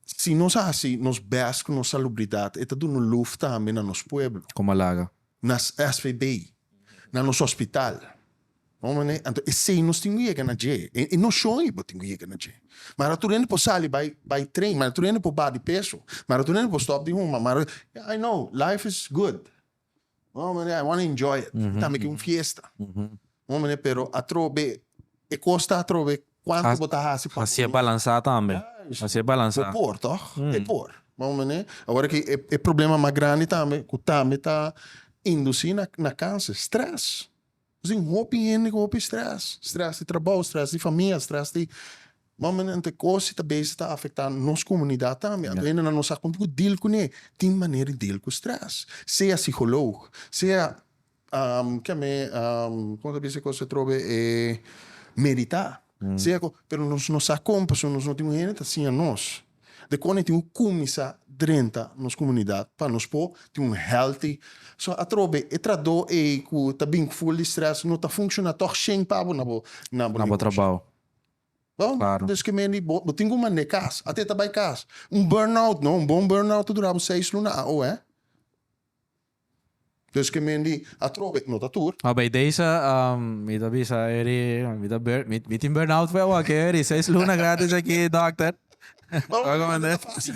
si nos hasi nos bèst ku nos salubridat e ta duna luf tambe na nos pueblo. Como a laga? na svb, na nos hospital, bon manera, anto esey nos tin cu yega na dje, e nocion y bo tin cu yega na dje, ma ara tur hende por sali bay bay train, ma ara tur hende por baha di peso, ma ara tur hende por stop di huma, ma ara, I know, life is good, bon manera, I wanna enjoy it, tambe ki un fiesta. Moe mane pero atrobe e cos ta atrobe cuanto bo ta haci pa. Haci'e balansa tambe haci'e balansa. Bo por toch? E por. Moe mane awor aki e problema mas grandi tambe cu tambe ta induci na cancer stress. Nos tin hopi hende cu hopi stress stress di trabou stress di famia stress di moe mane anto e cos ta besi ta afecta nos comunidad tambe anto hende nan no sa con tin cu deal cune tin manera di deal cu stress sea psiholoog sea Ke me kon ta bisa ku se trobe e meditá. Seko, pero nos no sa kon pasobra nos no tin un hende ta siña nos de kon e tin ku kuminsá drenta nos komunidat pa nos por tin un healthy. So atrobe e tratdó ei ku ta bin ku ful di strès no ta funshoná tòg shen pa bo na bo negoshi. Des ke mendi bo tin ku manda e kas ate ta bai kas. Un burnout no, un bon burnout ta dura bo seis luna a oe. Deske men di atrobe no ta tur. Ma bay daysa mi ta bisa eri mi ta bur mi tin burnout pue awor ke eri seis luna gratis aki doctor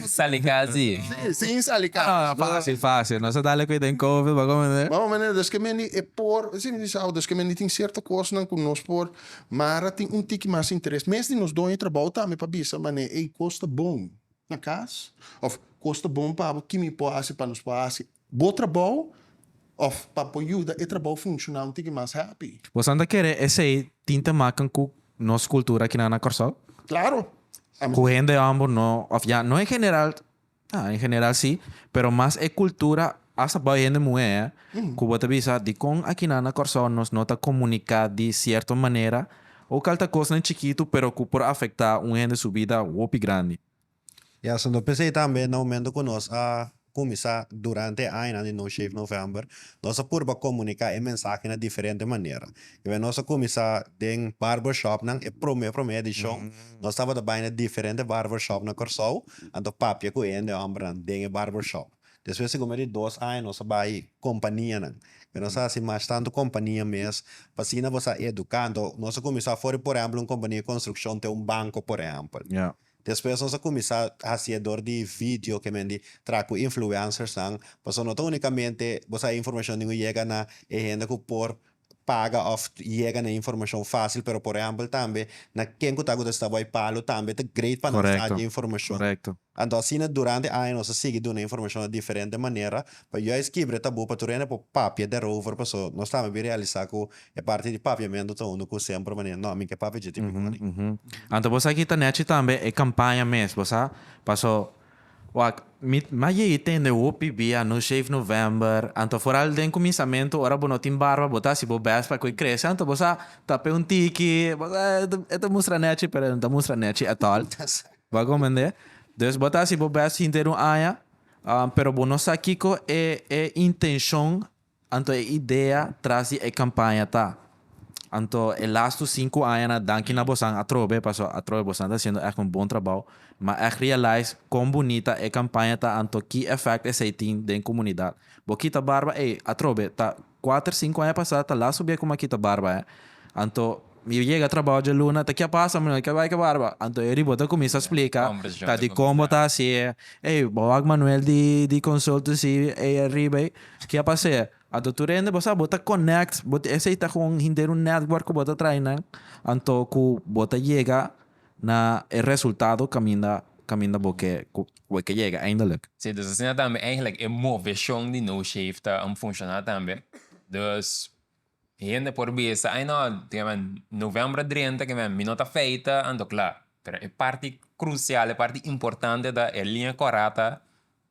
sali casi sin sali casi fasi fasi nos a dal aki den covid bo a comprende bo a comprende deske men di e por si mi bisa awor deske men di tin cierto cosnan cu nos por mara tin un tiki mas interes mes di nos doño trabou tambe pa bisa mane ey cos ta bon. na cas? Of cos ta bon pabo ki mi por haci pa nos por haci bo trabou of pa por yuda e trabou funciona un tiki mas happy? Bosan ta kere esey tin ta makan cu nos cultura aki nan na Corsou? Claro! Cu hende ambo no of ya no en general, ta en general si, pero mas e cultura Hasta boy hende muhé ku bo ta bisa dikon akinan na Kòrsou nos no ta komuniká di sierto manera, ouk al ta kosnan chikitu pero ku por afektá un hende su bida hopi grandi. Ya, so no pens'ei tambe na momentu ku nos a kuminsá durante e añanan di No Shave November, nos a purba komuniká e mensahe na diferente manera. Wen nos a kuminsá den barbershopnan, e promé promé edishon nos tabata bai na diferente barbershop na Kòrsou, anto papia ku e hende hòmbernan den e barbershop. Despues di coma di dos aña nos a bay companianan y nos a haci mash tanto compania mes pa asina bo sa educa enton nos a cuminsa for di por ejemplo un compania di construccion te un banco por ejemplo despues nos a cuminsa haci dor di video ke men di traha cu influencers nan pasobra no ta unicamente bo sa e informacion di yega na e hende cu por paga of yega na informashon fasil pero por ehempel tambe na ken ku ta ku ta sta bai Palo tambe ta great pa nos aja informashon anto asina durante aña nos a sigui duna informashon na diferente manera pa juis kibre tabu pa tur hende por papia derover paso nos tambe bin realisa ku e parti di papiamentu ta unu ku semper manera no mi ke papia dje tin mi kore. Anto bo sa ki ta nechi tambe e kampaña mes bo sa paso. Wak, mi a yei tende hopi bia no shave November, anto foral den kuminsamentu ora bo no tin barba bo ta hasi bo best pa ku e krese, anto bo sa tape un tiki, bo sa e ta mustra nèchi pero e no ta mustra nèchi at all, bo a komprende? Dus bo ta hasi bo best hinter un aña, pero bo no sa kiko e e intenshon Anto e idea tras di e campaña ta, Anto e lastu sinku aña na danki na bosan atrobe, paso atrobe bosan ta haciendo echt un bon trabao, ma echt realize con bunita e campaña ta anto ki effect esey tin den comunidad. Bo kita barba ey atrobe ta cuater sinku aña pasa ta lastu bia cu m'a kita barba eh, anto. Mi a yega trabao djaluna ta kia pasa mi no ke bai ke barba anto e riba ta cuminsa splica ta di con bo ta haci e ey bo wak Manuel di di consultancy ey ariba ey kia pas'e anto tur hende bo sa bo ta connect bo tin esey ta con henter un network cu bo ta traai nan anto cu bo ta yega na e resultado caminda caminda bo ke cu bo ke yega eindelijk. Si dus asina tambe eigenlijk e movecion di no shave ta un funciona tambe dus Mi hende por bisa, Ai no, ke men novembro drenta ke men mi no ta feita, anto kla. Pero e parti krusial, e parti importante ta e liña kòrata,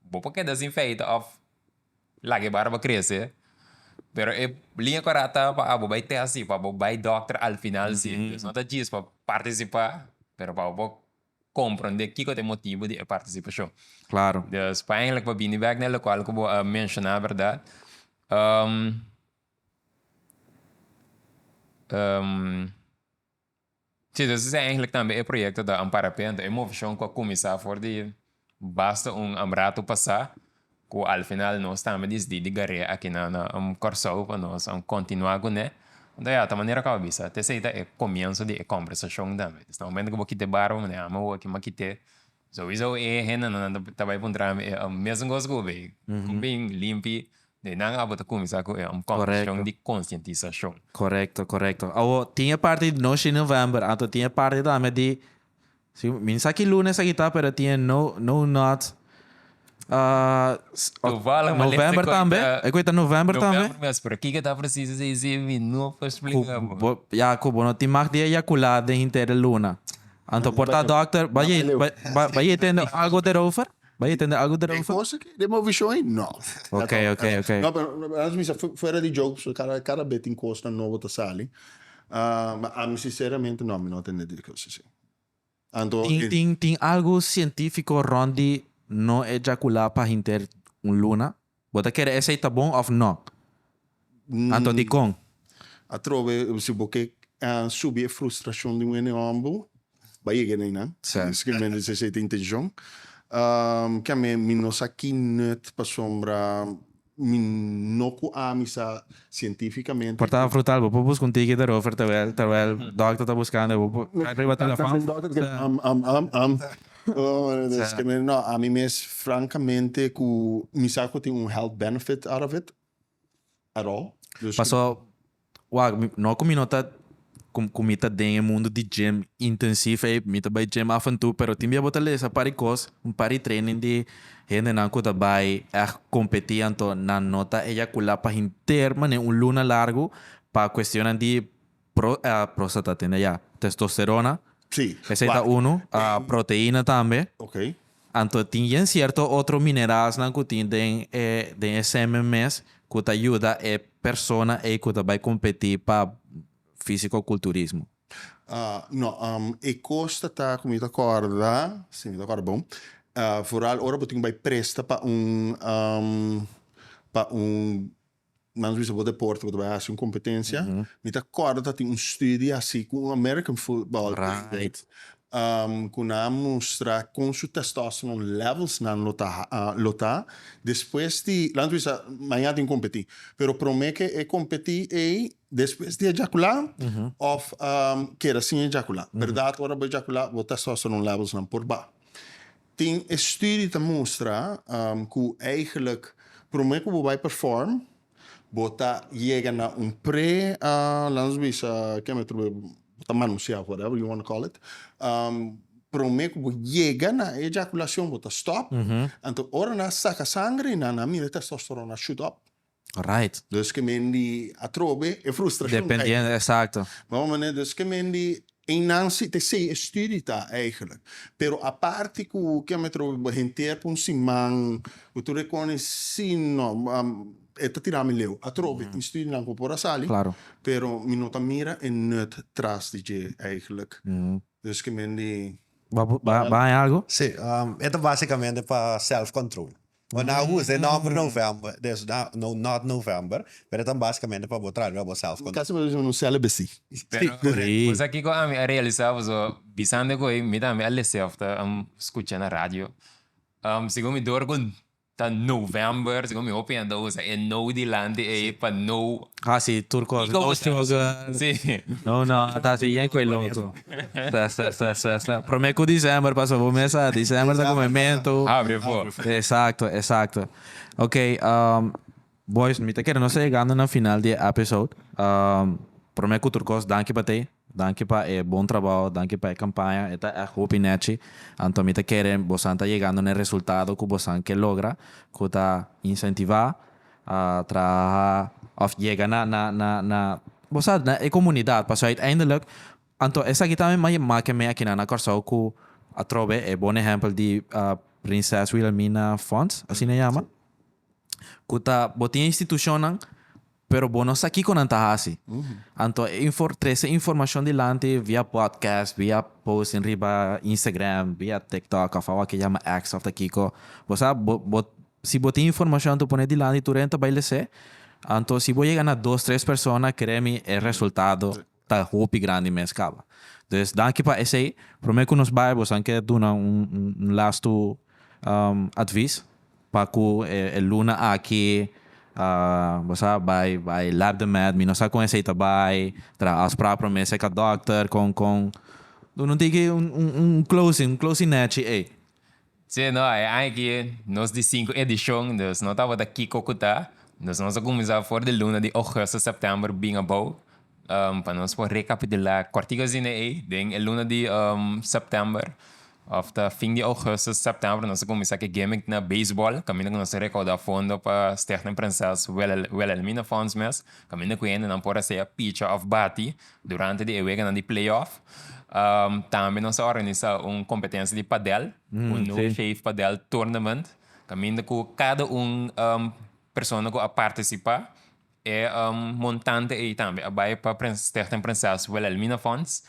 bo por keda sin feita òf laga e barba krese, pero e liña kòrata pa abo bai tèsti, pa abo bai dòkter al final si, dus no ta djis pa partisipá pero pa abo komprondé kiko ta e motibu di e partisipashon. Klaro. Dus pa bini bèk na e lokal ku bo a menshoná, bèrdat? si ta sucede eindelijk tambe e proyecto ta un parapente e movicion cu a cuminsa for di basta un rato pasa cu al final nos tambe disdi di garea aki na Corsou pa nos continua cu ne ento ya ta manera cu a bisa te esey ta e comienzo di e conversacion tambe desde e momento cu bo kiti e barba bo manda e ama bo aki ma kiti Sowieso e hendenan ta bai puntra mi e mesun kos ku be ku bin limpi de nan abo ta kuminsá ku e kondishon di konsientisashon. Korekto, korekto. Awo tin e parti di no shi novèmber, anto tin e parti tambe di, mi no sa ki lunes aki ta, pero tin e no no not. Toevallig ma lek te konta. E ku ta november tambe? November mes, pero kiko ta presiso esei si mi no por splika bo. Ya ku bo no tin mag di eyakulá den henter di luna. Anto por ta dòkter, bai e bai e tende algu derover? Bai e tende algu derover? E kos aki den bo vishon ei no. Ok ok ok. No pero alas mi sa fuera di jokes kada kada be tin kosnan nobo ta sali. Ma ami sinceramente no mi no tende di e kos esei. Anto tin tin tin algu sientifiko rònt di no ejakulá pa hinter un luna? Bo ta kere esei ta bon òf nò? Anto dikon? Atrobe si bo ke subi e frustrashon di un hende hòmber, bai yega na einan. Simplemente si esei ta intenshon. Kiamen mi no sa ki nòt pasobra Mi no cu ami sa cientificamente. Portaba frutal bo por busca un ticket erover terwel terwel doctor ta buscando e bo por cay riba telefon. No ami mes francamente cu mi sa cu tin un health benefit out of it at all. Paso Wak, mi no ku mi no ta ku mi ta den e mundu di gym intensif ei, mi ta bai gym af en tu, pero tin bia bo ta lesa par e kos, un par di training di hendenan ku ta bai ègt kompetí anto nan no ta eyakulá pa henter manera un luna largu pa kuestionnan di pro próstata tende ayá, testosterona, Sí, esei ta wak, unu, a proteína tambe. Oké. Anto tin yen cierto otro mineralsnan cu tin den e den e semen mes cu ta yuda e persona ey cu ta bay competi pa fisicoculturismo? No. E cos ta ta cu mi ta corda, si mi ta corda bon, foral ora bo tin cu bay presta pa un pa un Nan bisa bo deporte bo ta bai hasi un kompetensia mi ta kòrda ta tin un study hasi ku un American football player ku nan a mustra kon su testosterone levels nan lo ta lo ta despues di laga mi ta bisa maña a tin kompetí pero promé ke e kompetí ei despues di e jakulá òf keda sin e jakulá bèrdat ora bo e jakulá bo testosterone levels nan por bai. Tin estudi ta mustra ku eigelik prome ku bo bai perform bo ta yega na un pre laat nos bisa ke me atribuí bo ta manusia of whatever you wanna call it prome ku bo yega na e ejakulacion bo ta stop anto ora nan saka sangre nan a mira testosterona shoot up Right. Dus ke men di atrobe e frustrashon ta aiga. Dependiendo, exacto. Mesmo manera, dus ke men di einan si ta esei e studie ta eigenlik. Pero aparte ku ke me atrobe bo henter pa un siman bo tur e koni si no e ta tira mi leu atrobe tin studienan ku por a sali, pero mi no ta mira e nut tras di dje eigenlik. Dus ke men di. Bo a haña algu? Sí, e ta basikamente pa self control. Bo na usa e nòmber November, dus na no not November, pero ta basikamente pa bo traduí abosèlf. Mi kasi mi a bisa un sèlebe sí. Sí. Bo sa kiko ami a realisá pasobra bisando ku ei mi tambe a lese òf ta skucha na radio. Segun mi dor ku ta November, segun mi hopi hende ta usa e no dilanti ei pa no. Ah sí, tur kos, no sugar, no not, asi, yen ku e lo otro. Sa sa sa sa sa prome ku December pasa bo mes a December ta kume mentu Abri e for. Exacto exacto ok boys mi ta kere nos ta yegando na final di e episode prome ku tur kos danki pa te danki pa e bon trabao danki pa e kampaña e ta ègt hopi nèchi anto mi ta kere bosan ta yegando na e resultado ku bosan ke logra ku ta insentivá. a traha of yega na na na na bo sa na e comunidad pasobra uiteindelik anto esaki ta mi a make me akinan na Corsou cu atrobe e bon ehempel di Prinses Wilhelmina Fonds asina e yama cu ta bo tin e institucionnan pero bo no sa kico nan ta haci anto e infor trece informacion dilanti via podcast via posting riba Instagram via TikTok of awor ke yama X of ta kico bo sa bo bo Si bo tin informashon ta pone dilanti tur hende ta bai les'é, anto si bo yega na dos tres persona kere mi e resultado ta hopi grandi mes kaba. Entonces danki pa esei, promé ku nos bai bo san ke duna un lastu advis pa ku e luna aki bo sa bai bai lab de mèt, mi no sa kon esei ta bai, tra afsprak promé seka dòkter kon kon duna un tiki un closing un closing nèchi ei. Sí no, e aña aki nos di sinku edishon, dus no tabata kiko ku ta, dus nos a kuminsá for di luna di ogusto, sèptèmber bin abou, pa nos por rekapitulá kòrtiku asina ei den e luna di sèptèmber òf ta fin di ogusto, sèptèmber nos a kuminsá ku e gimmick na beisbòl kaminda ku nos a rekaudá fondo pa Stichting Princess Wilhelmina Fonds mes kaminda ku hendenan por hacia picha òf bati Durante di e weganan di playoff tambe nos a organisa un kompetensia di padèl, un No Shave Padèl Tournament, kaminda ku kada un persona ku a partisipá e montante ei tambe a bai pa Stichting Prinses Wilhelmina Fonds.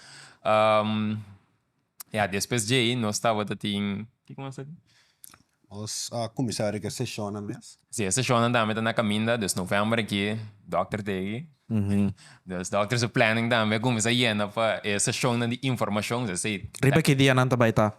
Ya despues dje ei nos tabata tin, kiko mas aki? Nos a kuminsá riba e seshonnan mes. Si, e seshonnan tambe ta na kaminda, dus novèmber aki dòkter ta ey. Dus dòkter su plènning tambe a kuminsá yena pa e seshonnan di informashon, esei. Riba ki dia nan ta bai ta?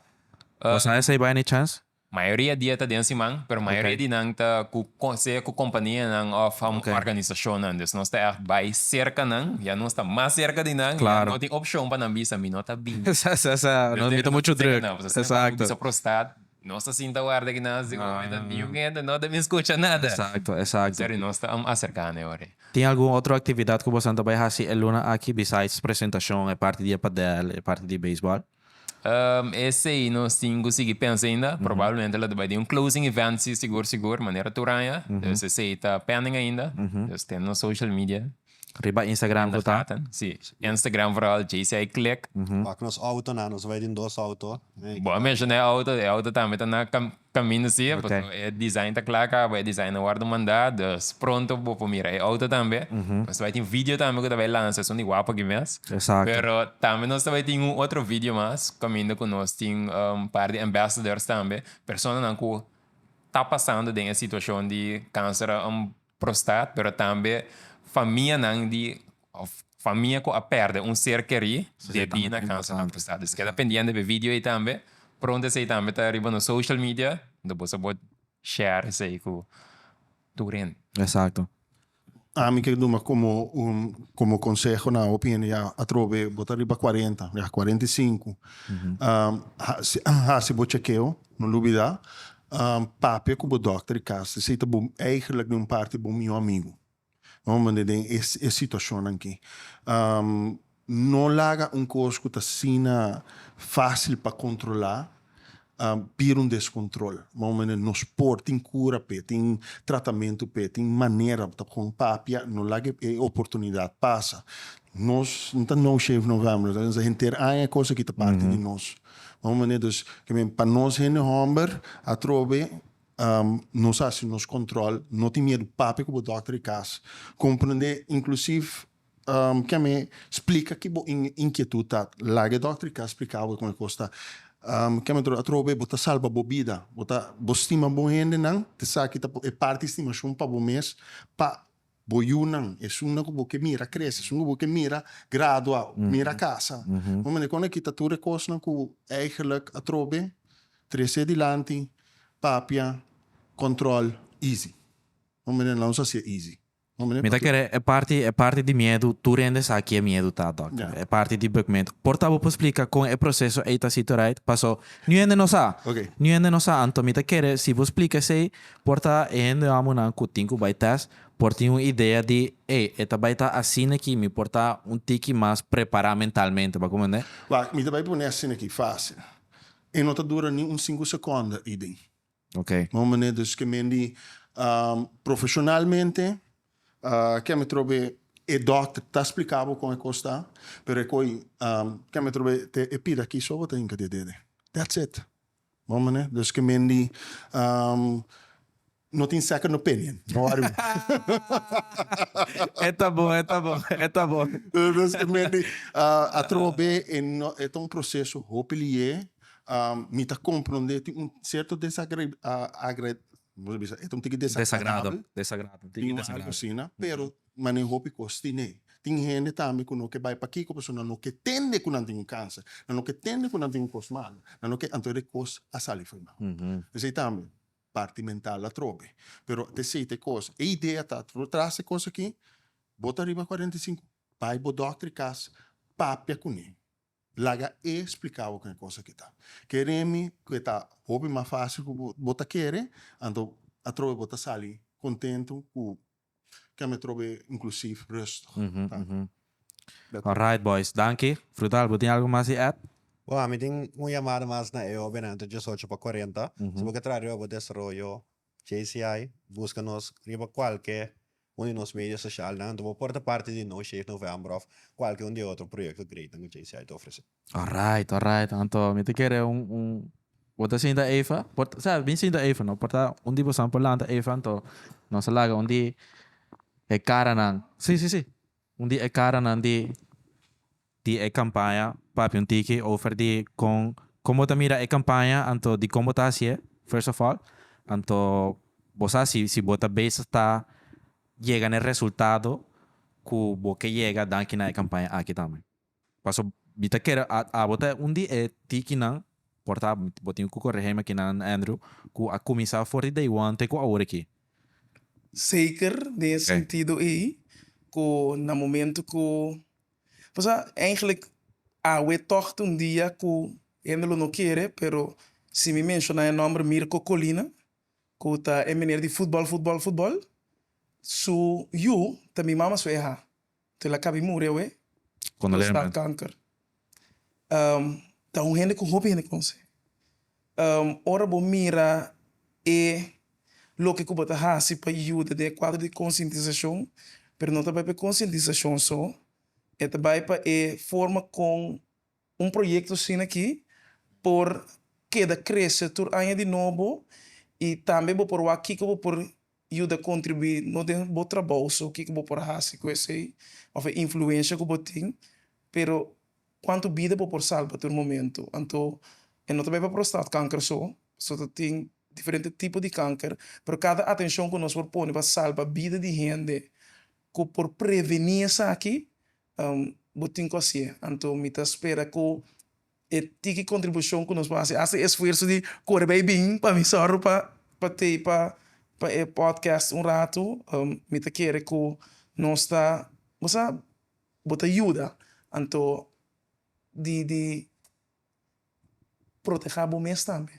Bo sa esei bai any chèns? Mayoria dia ta den siman, pero mayoria di nan ta ku sea ku kompanianan òf organisashonnan. Dus nos ta ègt bai serka nan, ya nos ta mas serka di nan, ya no tin opshon pa nan bisa mi no ta bini. Sa sa sa, nos mira muchu drùk. Esakto. Bisa prostad. Nos ta sinta warda aki na Azi hopi ta niu hende no ta bin skucha nada. Exacto, exacto. Esaki nos ta am acerca ne ora. Tin algun otro actividad cu bosonan ta bay haci e luna aki besides presentacion, e parti di e padel, e parti di baseball? Umm, esey nos tin cu sigui pensa ainda. Probablemente lo ta bay den un closing event si, sigur, sigur, manera tur aña. Dus esey ta pending ainda. Dus ten nos social media. Riba Instagram ku ta? Si, Instagram vooral JCI Click. Pak nos auto nan, nos bai den dos auto. Bo a menshona e auto, e auto tambe ta na kaminda si, pasobra e design ta kla kaba, e design a wordu manda, dus pronto bo por mira e auto tambe. Nos ta bai tin video tambe ku ta bai lansa, esun di Wapo aki mes. Pero tambe nos ta bai tin un otro video mas kaminda ku nos tin un par di ambassadors tambe, personanan ku ta pasando den e situashon di kanser a. Prostat, pero tambe famianan di of famia ku a pèrdè un ser kerí debí na kanser di prostat. Esei keda pendiente p'e vidio ei tambe. Pronto esei tambe ta riba nos social media unda boso a por share esei ku turen. Exacto. Ami ke duna komo un komo konseho na hopi hende ya atrobe bo ta riba cuarenta, ya cuarenta y cinco, hasi bo chekeo. No lubidá, papia ku bo dòkter di kas di si ta bo eigenlik den un parti bo mihó amigu. Normalmente den e e situashonnan akí. No laga un kos ku ta asina fásil pa kontrolá bira un deskontròl. Normalmente nos por, tin kura p'e, tin tratamentu p'e, tin manera bo ta kon papia, no laga e oportunidat pasa. Nos no ta no shave no vèm, nos ta bisa henter aña e kos akí ta parti di nos. Bo mi manera dus ke men pa nos hende hòmber atrobe nos a hasi nos kòntròl no tin miedu papia ku bo dòkter di kas komprendé inklusiv ki'e mi splika ki bo inkietut ta laga e dòkter di kas splika bo kon e kos ta ki'e mi atrobe atrobe bo ta salba bo bida bo ta bo stima bo hendenan esaki ta por e parti stimashon pa bo mes pa Bo yunan, esunnan ku bo ke mira krese, esun ku bo ke mira gradua, mira kasa. Bo mira kon nan kita tur e kosnan ku eigelik atrobe, trese dilanti, papia, kòntròl, easy. Bo mira nan nos a hasié easy. Bo mira. Mi ta kere e parti, e parti di miedu, tur hende sa ke miedu ta, dòkter. E parti di bukmento. Por ta bo por splika kon e proseso ei ta si torait? Paso niu hende no sa. Niu hende no sa. Anto mi ta kere si bo splika esei Por ta e hende amunan ku tin ku bai tèst por tin un idea di, Ey, e ta bai ta asina aki, mi por ta un tiki mas prepará mentalmente. Bo a komprendé? Wak, mi ta bai pone asina aki fásil. E no ta dura ni un sinku sekònda i bin. Oke. Bon manera, dus ke men di profeshonalmente, ke mi trobe e dòkter ta spliká bo kon e kos ta, pero e koi ke mi trobe te e pida aki so bo ta hinka di e dede. That's it. Bon manera, dus ke Mendy no tin second opinion, no wari bo. E ta bon, e ta bon, e ta bon. Dus ke Mendy a troha be, e no, e ta un proseso hopi liye. Mi ta kompronde tin un sierto desagra, agra, como se bisa, e ta un tiki desagradabel. Desagrado, desagrado, tin tiki desagrado. Tin algo asina, pero mane hopi cos tin ey. Tin hende tambe cu no ke bay pakiko pasobra nan no ke tende cu nan tin un cancer, nan no ke tende cu nan tin un cos malo, nan no ke, anto e cos a sali fo'i nan cuerpo. Esey tambe parti mental atrobe. Pero te sey te cos, e idea ta atrobe, tras e cos aki, bo ta riba cuarenta i sinku, bay bo doctor e cas, papia cune, laga e splica bo con e cos aki ta. Ke remi cu e ta hopi mas facil cu bo ta kere, anto atrobe bo ta sali contento cu Ken me trobe inclusief rustig ta. Alright boys, danki. Frutal bo tin algo mas di add? Bo, mi tin un yamada mas na e obe na entre dies ocho pa cuarenta. Si bo ke traha riba bo desaroyo JCI, buska nos riba cualke un di nos medio socialnan. Bo por ta parti di No Shave November of cualke un di e otro proyecto great nan ku JCI ta ofrece. Alright alright anto mi ta kere un un bo ta sinta Eva por sa mi sinta Eva no por ta un di bosan por lanta Eva anto nos a laga un di e karanan si si si un di e karanan di di e kampaña papia un tiki over di kon kon bo ta mira e kampaña anto di kon bo ta hasié first of all anto bo sa si si bo ta bezig ta yega na e resultado ku bo ke yega danki na e kampaña aki tambe. Paso mi ta kere a abo ta un di e tikinan por ta abo bo tin ku korehe makinan Andrew ku a kuminsá for di Taiwan te ku awor aki. Seker den e sentido ei ku na momento ku paso eindelijk awe tog ta un dia ku hende lo no kere pero si mi menshoná e nòmber Mirko Colina ku ta e meneer di futbòl futbòl futbòl su yu ta mi mama su eha Tel a kabi muri awe, prostat kanker. Ta un hende ku hopi hende konsé. Ora bo mira e loke ku bo ta hasi pa yuda den e kuadro di konsientisashon, pero no ta bai pa e konsientisashon so, e ta bai pa e forma kon Un proyecto asin'aki por keda crece tur aña di nobo y tambe bo por wak kico bo por yuda contribui no den bo trabao so, kico bo por haci cu esey of e influencia cu bo tin, pero cuanto bida bo por salba tur momento. Anto e no ta bay pa prostaatkanker so, pasobra ta tin diferente tipo di kanker, pero cada atencion cu nos por pone pa salba bida di hende cu por preveni esaki Bo tin cu así e. Anto mi ta spera cu e tiki contribucion cu nos por haci, haci e esfuerzo di core bay bin pa mi solo pa tapa pa e podcast un rato. Mi ta kere cu nos ta, bo sa, bo ta yuda. Anto di. Proteha bo mes tambe,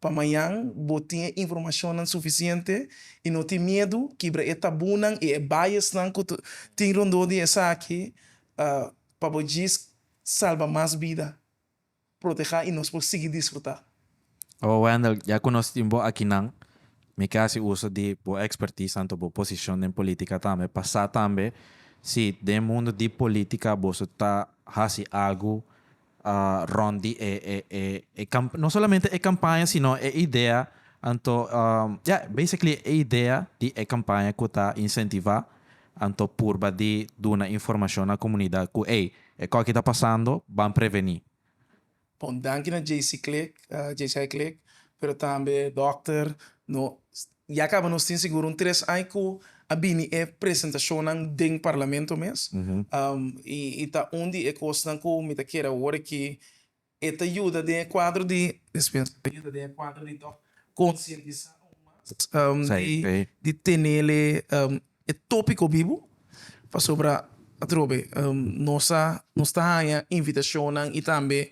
pa mañan bo tin e informashonnan sufisiente i no tin miedu. Kibra e tabunan i e biasnan ku tin rondó di esaki pa bo djis salba mas bida. Proteha i nos por sigui disfrutá. Awa Wendell, ya cu nos tin bo akinan, mi ke haci uso di bo expertise, tanto bo posicion den politica tambe, pa sa tambe si den mundo di politica boso ta haci algo rond di e e no solamente e campaña sino e idea anto ya basically e idea di e campaña cu ta incentiva anto purba di duna informacion na comunidad cu ey, escoki ta pasando, ban preveni. Pa un danki na JC Click, JCI Click, pero tambe Dòkter. Nos ya kaba nos tin sigur un tres aña ku a bini e presentashonnan den Parlamento mes. I e ta un di e kosnan ku mi ta kere awor aki. E ta yuda den e kuadro di, dispensa, e ta yuda den e kuadro di konsientisá aún mas di tenel e. e tópiko bibu, pasobra atrobe nos a nos ta haña invitashonnan i tambe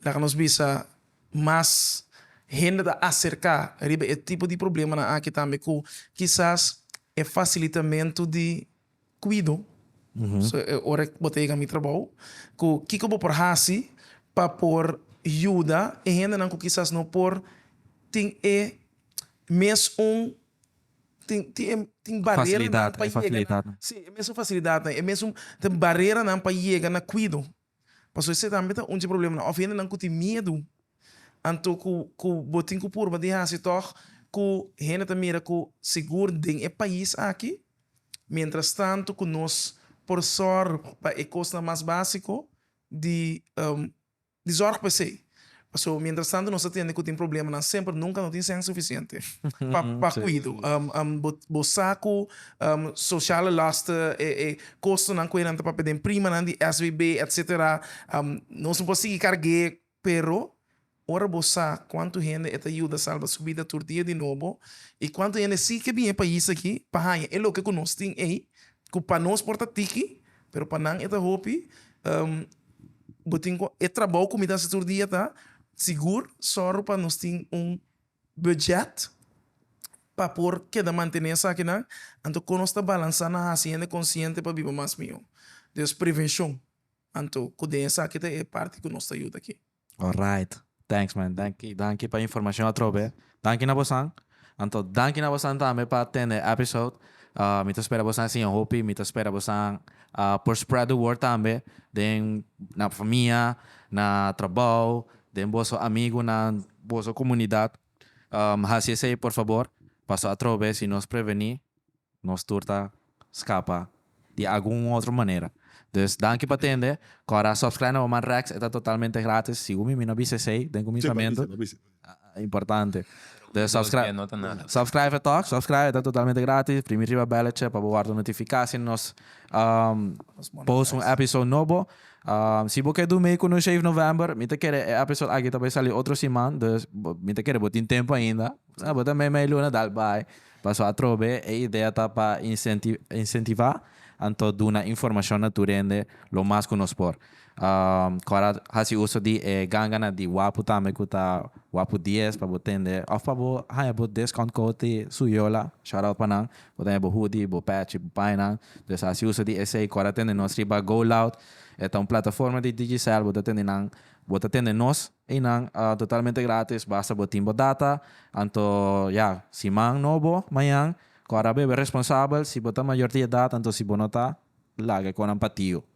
laga nos bisa mas hende ta aserká riba e tipo di problemanan akí tambe ku kisas e fasilitamentu di kuido ora bo ta yega mi trabou ku kiko bo por hasi pa por yuda e hendenan ku kisas no por tin e mes un. Tin, tin e, tin bareranan pa yega na, si, e mesun fasilidatnan, e mesun tin bareranan pa yega na kuido. Pasobra esei tambe ta un dje problemnan. Òf hendenan ku tin miedu, anto ku, ku bo tin ku purba di hasi tòg ku hende ta mira ku sigur den e pais aki, miéntras tantu ku nos por sòru pa e kosnan mas básiko di. di zorg pa esei. Paso, mientrastantu nos ta tende cu tin problemanan semper, nunca no tin sèn suficiente pa cuido. Bo sa cu sociale lasten, e costonan cu eran ta papia den primanan di SVB, etc. Nos no por sigui carg'é, pero ora bo sa cuantu hende e ta yuda salba su bida tur dia di nobo y cuantu hende sí ke bin e pais aki pa haña e loke cu nos tin ei, cu pa nos por ta tiki Pero pa nan e ta hopi. Bo tin cu e trabou cu mi ta haci tur dia ta sigur zorgo pa nos tin un budget pa por keda mantene esakinan. Anto con nos ta balansa na haci hende consciente pa biba mas mihó. Dus prevencion anto cu den esaki ta e parti cu nos ta yuda aki. Alright thanks man danki danki pa informacion atrobe danki na bosan anto danki na bosan tambe pa atende e episode mi ta spera bosan siña hopi mi ta spera bosan por spread the word tambe den na famia na trabao den boso amigunan boso comunidad hasi esey por favor paso atrobe si nos preveni. Nos tur ta scapa di algun otro manera. Dus danki pa tende. Cora a subscribe na bo man Rex e ta totalmente gratis. Sigun mi mi no bisa esey den cuminsamentu. Importante. Dus subscribe subscribe tok subscribe e ta totalmente gratis. Primi riba belletje pa bo wordo notifica si nos post un episode nobo. Si bo ke do mey cu nos Shave November mi ta kere e episode aki ta bay sali otro siman. Dus mi ta kere bo tin tempo ainda. Bo ta mey mey luna dal bay. Paso atrobe e idea ta pa incentiva anto duna informacion na tur hende lo mas cu nos por. Cora haci uso di e ganganan di Wapu tambe cu ta Wapu dies pa bo tende of pa bo haña bo discount code di Suyola, shout out pa nan, bo ta haña bo hoodie, bo patch, bo painan, dus haci uso di esey cora tende nos riba GoLoud, e ta un plataforma di Digicel, bo ta tende nan, bo ta tende nos. Einan a totalmente gratis basta bo tin bo data, anto ya si man no bo mañan cu a rabia bo e responsabel si bo ta mayor di edad anto si bo no ta laga e conan pa tio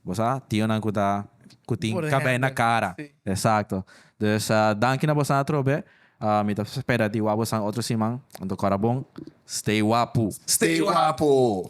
bo sa tionan cu ta cu tin cabei na cara exacto dus danki na bosnan atrobe mi ta spera di wak bosan otro siman anto cora bon stay wapu. Stay wapu!